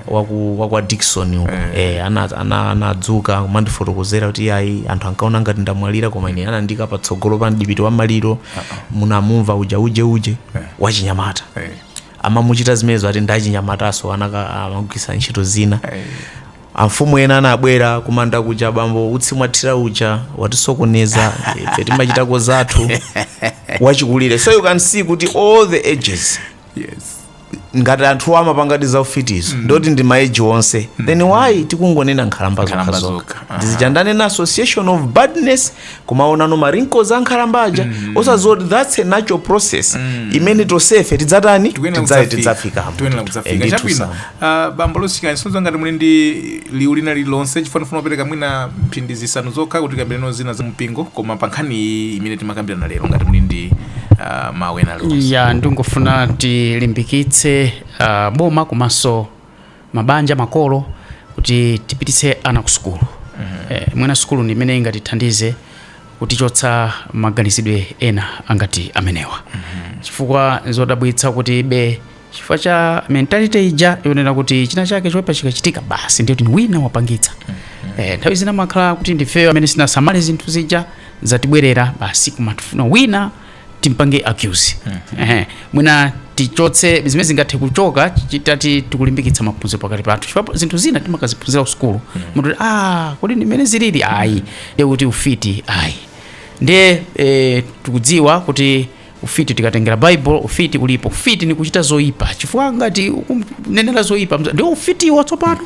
waku wakwa Dickson uko eh ana ana- anadzuka kumandifotokozera kuti ayi anthu ankaona ngati ndamwalira koma ine anandiika patsogolo pa mdipiti wa maliro munamuona uja uje uje wachinyamata Eh. amamuchita zimenezo ati ndachinyamataso anaka amagwiritsa ntchito zina Eh. Amfumu ena anabwera kumanda kuja bambo utsi mwathira uja watisokoneza ife timachitako zathu wachikulire so you can see kuti all the ages yes. ngati anthu amapangadi za ufitizo mm. ndoti ndi maeji onse mm. then why tikungonena nkhalamba Nkhalamba zokhazoka zokha. Aha. ndizija ndanena na association of badness kumaona ma wrinkles ankhalamba aja osadziwa kuti that's a natural process imene tonsefe tidzatani tikuyenera Tidza- kudzafika. tidzafikamo Tikuyenera kudzafika. Ndithu Chabwino. Sam. Ah, bambo Loti Kansozo ngati muli ndi liwu lina lililonse chifukwa ndifuna kupereka mwina mphindi zisanu zokha kuti tikambirane zina za mpingo koma pa nkhani iyi imene timakambirana lero ngati muli ndi ah, mawu ena alionse ya ndingofuna tilimbikitse uh, boma komanso mabanja makolo kuti tipititse ana ku sukulu mm -hmm. eh, mwina sukulu ndi imene ingatithandize kutichotsa maganizidwe ena angati amenewa mm -hmm. chifukwa zodabwitsa kuti be chifukwa cha mentality ija yonena kuti china chake choipa chikachitika basi ndiye kuti wina wapangitsa mm -hmm. eh, nthawi zina zimakhala kuti ndifeyo amene sitinasamale zinthu zija zatibwerera basi kumafuna wina timpange accuse ehe mwina tichotse zimene zingathe kuchoka chitati tikulimbikitsa maphunziro pakati pathu chifukwa zinthu zina timakaziphunzira kusukulu munthu kuti ah kodi ndimene zilili ayi ndiye kuti ufiti ayi ndiye eh, tikudziwa kuti ufiti tikatengera bible ufiti ulipo ufiti ni kuchita zoyipa chifukwa ngati ukunenera zoyipa mza- ndiwo ufitiwo tsopano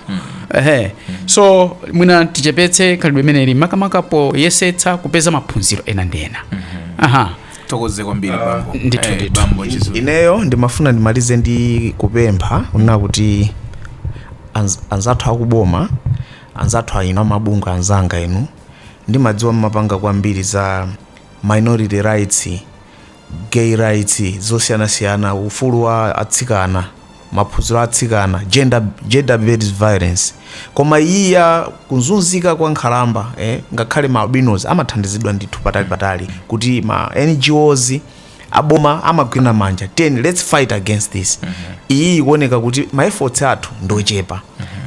ehe so mwina tichepetse khalidwe limeneli makamaka poyesetsa kupeza maphunziro ena ndi ena aha tithokoze kwambiri bambo ndithu, Eh, ndithu. bambo chizulu ineyo ndimafuna ndimalize ndi kupempha kunena kuti anz- anzathu akuboma anzathu a inu amabungwe anzanga inu ndimadziwa mmapanga kwambiri za minority rights gay rights zosiyanasiyana ufulu wa atsikana maphunziro a atsikana gender, gender based violence koma iyi ya kunzunzika kwa nkhalamba eh, ngakhale ma albinos amathandizidwa ndithu patali patali kuti ma ngos aboma amagwirana manja kuti let's fight against this iyi ikuoneka kuti ma efforts athu ndochepa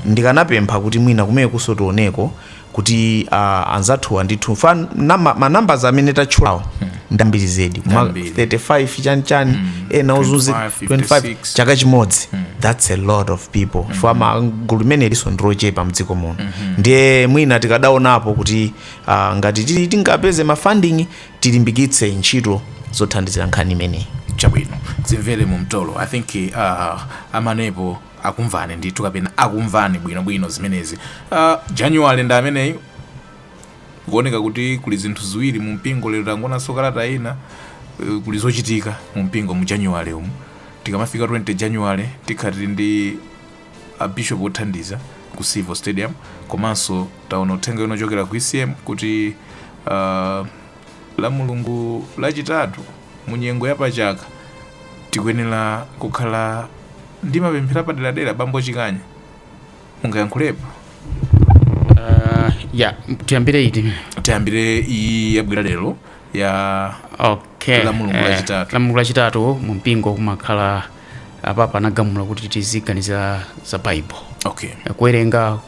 ndikanapempha kuti mwina kumenekunso tioneko kuti uh, anzathuwa ndithu fa nama, ma numbers amene tatchulawo ndambiri zedi ma Ndambiri. 35 chani chani ena ozunzi 25, 25 chaka chimodzi that's a lot of people chifukwa gulu limenelinso ndilochepa mdziko muno ndiye mwina tikadaonapo kuti uh, ngati ti- tingapeze ma funding tilimbikitse ntchito zothandizira nkhani imeneyi chabwino zimvere mu mtolo i think uh, amanepo akumvani ndithu kapena akumvani bwinobwino zimenezi uh, january ndi ameneyi kuoneka kuti kuli zinthu ziwiri mu mpingo lero tangoonanso kalata ina uh, kuli zochitika mu mpingo mu january umu tikamafika 20 january tikhala tili ndi a bishop othandiza ku civo stadium komanso taona uthenga wina wochokera ku ecm kuti uh, la mulungu lachitatu Mu nyengo ya pa chaka, tikuyenera kukhala ndi mapemphero apaderadera. Bambo Chikanya, mungayankhulepo? Uh, ya tiyambire iti Tiyambire iyi yabwera lero ya okay La Mulungu eh, lachitatu. la mulungu lachitatu mu mpingo kumakhala apapa anagamula kuti tiziganizira za bible okay. Eh, kuwerenga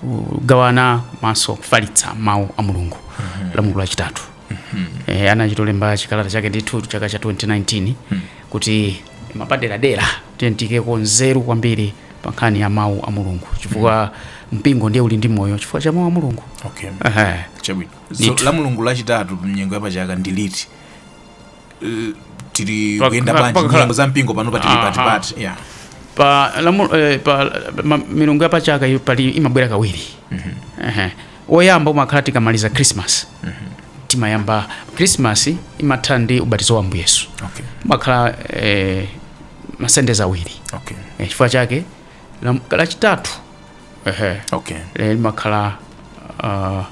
kugawana komanso kufalitsa mawu a mulungu mm -hmm. la mulungu lachitatu mm -hmm. e, eh, anachitolemba chikalata chake ndithu chaka cha 2019 mm -hmm. kuti mapaderadera tiikeko nzeru kwambiri pa nkhani ya mawu a mulungu chifukwa mm -hmm mpingo ndiye uli ndi moyo chifukwa cha mawu a mulungu okay. uh -huh. so, la mulungu lachitatu mnyengo yapachaka ndi liti tili Paka- tikuyenda bwanji pakakhala- nyengo za mpingo pano patili Aha. patipati yeah. pa lamu, eh, pa ma, milungu yapachaka iyo paja imabwera kawiri Ehe. woyamba umakhala tikamaliza christmas timayamba christmas imatha ndi ubatizo wa ambuye yesu okay. umakhala eh, masande ake awiri okay. Eh, chifukwa chake lam- lachitatu ehe okay lero limakhala ah,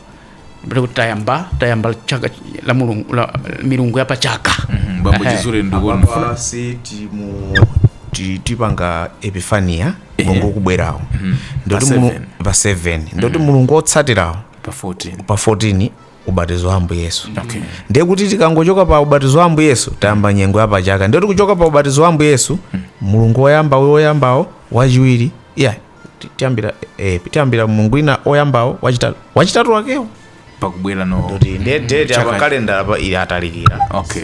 mbali kuti tayamba tayamba chaka la mulungu la milungu ya pachaka Mhm, bambo Ehe. chizule ndikuona apapa pa 6 mu ti- tipanga epifania mulungu ukubwerawo ndiye kuti Pa mulu- seven. pa 7 ndiye kuti mulungu otsatirawo pa 14 pa 14 ubatizo wa ambuye yesu Okay. ndiye kuti tikangochoka pa ubatizo wa ambuye yesu tayamba nyengo ya pachaka ndiye kuti kuchoka pa ubatizo wa ambuye yesu mulungu woyamba uyo woyambawo wachiwiri ya ti- tiyambira eh, tiyambira mulungu wina oyambawo wachitatu wachitatu wakewo pakubwera no kuti ndiye date Chaka- apa kalendala pa ili atalikira okay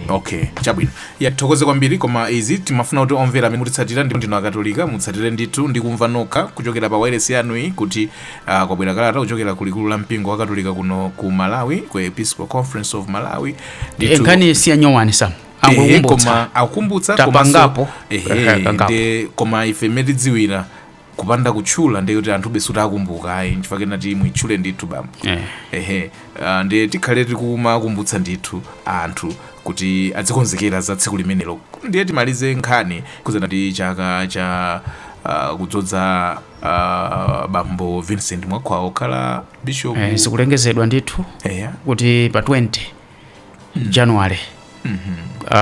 okay chabwino tithokoze kwambiri koma izi timafuna kuti omvera amene mukutitsatira ndipo ndinu akatolika mutsatire ndithu ndi kumva nokha kuchokera pa wailesi yanuyi kuti Uh, kwabwera kalata kuchokera ku likulu la mpingo wakatolika kuno ku malawi ku episcopal conference of malawi Ndithu- Eh, nkhani si yanyowani sam Ehe, angokumbutsa koma akumbutsa Tapangapo. Ehe, komanso tapangapo. nde koma ife mmene tidziwira kupanda kutchula ndiye kuti anthu sakumbuka ayi nchifukwa ndinati muitchule ndithu bambo Eh. ehe ah, ndiye tikhale tikumakumbutsa ndithu anthu kuti adzikonzekera za tsiku limenelo ndiye timalize nkhani kunenazo za chaka cha ah, kudzodza bambo vincent mwakhwawa kukhala bishop eh, zikulengezedwa ndithu eya kuti pa 20 january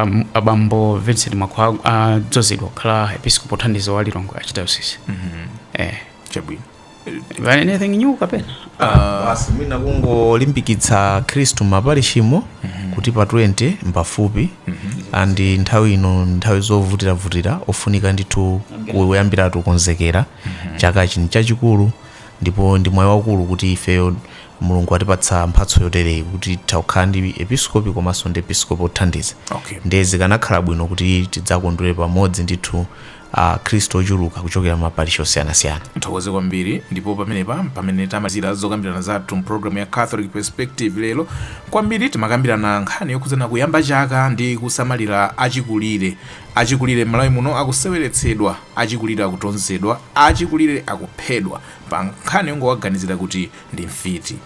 um, abambo vincent mwakhwawa adzadzozedwa kukhala episkopi wothandiza wa lilongwe archdiocese eh, chabwino But anything new kapena basi mwina kungolimbikitsa akhristu m'maparishimo kuti pa 20 mpafupi and nthawi ino nthawi zovutiravutira ofunika ndithu kuyambiratu kukonzekera chaka chino chachikulu ndipo ndi mwayi waukulu kuti ifeyo mulungu atipatsa mphatso yotereyi kuti takhala ndi episkopi komanso ndi episkopi othandiza Okay. ndiye zikanakhala bwino kuti tidzakondwere pamodzi ndithu Akhristu ochuluka kuchokera m'maparishi osiyanasiyana. Tithokoze kwambiri ndipo pamenepa mpamene tamalizira zokambirana zathu m'pulogalamu ya Catholic Perspective lero. Kwambiri timakambirana nkhani yokhudzana kuyamba chaka ndi kusamalira achikulire. Achikulire m'Malawi muno akuseweretsedwa, achikulire akutonzedwa, achikulire akuphedwa pa nkhani yongowaganizira kuti ndi mfiti.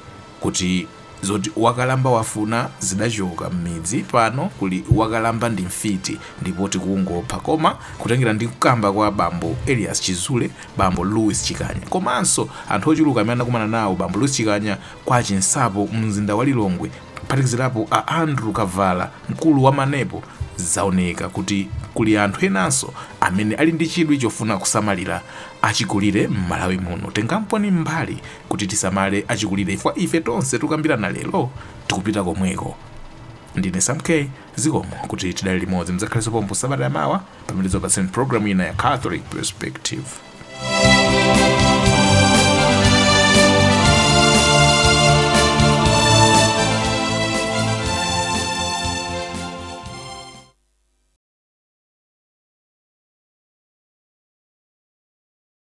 kuti zoti wakalamba wafuna zidachoka mmidzi pano kuli wakalamba ndi mfiti ndipo tikungopha koma kutengera ndi kukamba kwa bambo elias chizule bambo louis chikanya komanso anthu ochuluka amene anakumana nawo bambo louis chikanya kwa chinsapo mzinda wa lilongwe kuphatikizirapo a andrew kavala mkulu wa manepo zaoneka kuti kuli anthu enanso amene ali ndi chidwi chofuna kusamalira achikulire m'malawi muno tengamponi mbali kuti tisamale achikulire chifukwa ife tonse tikukambirana lero tikupita komweko ndine sam k zikomo kuti tidali limodzi mudzakhalenso pompo sabata yamawa pamene tidzakupatseni programu ina ya catholic perspective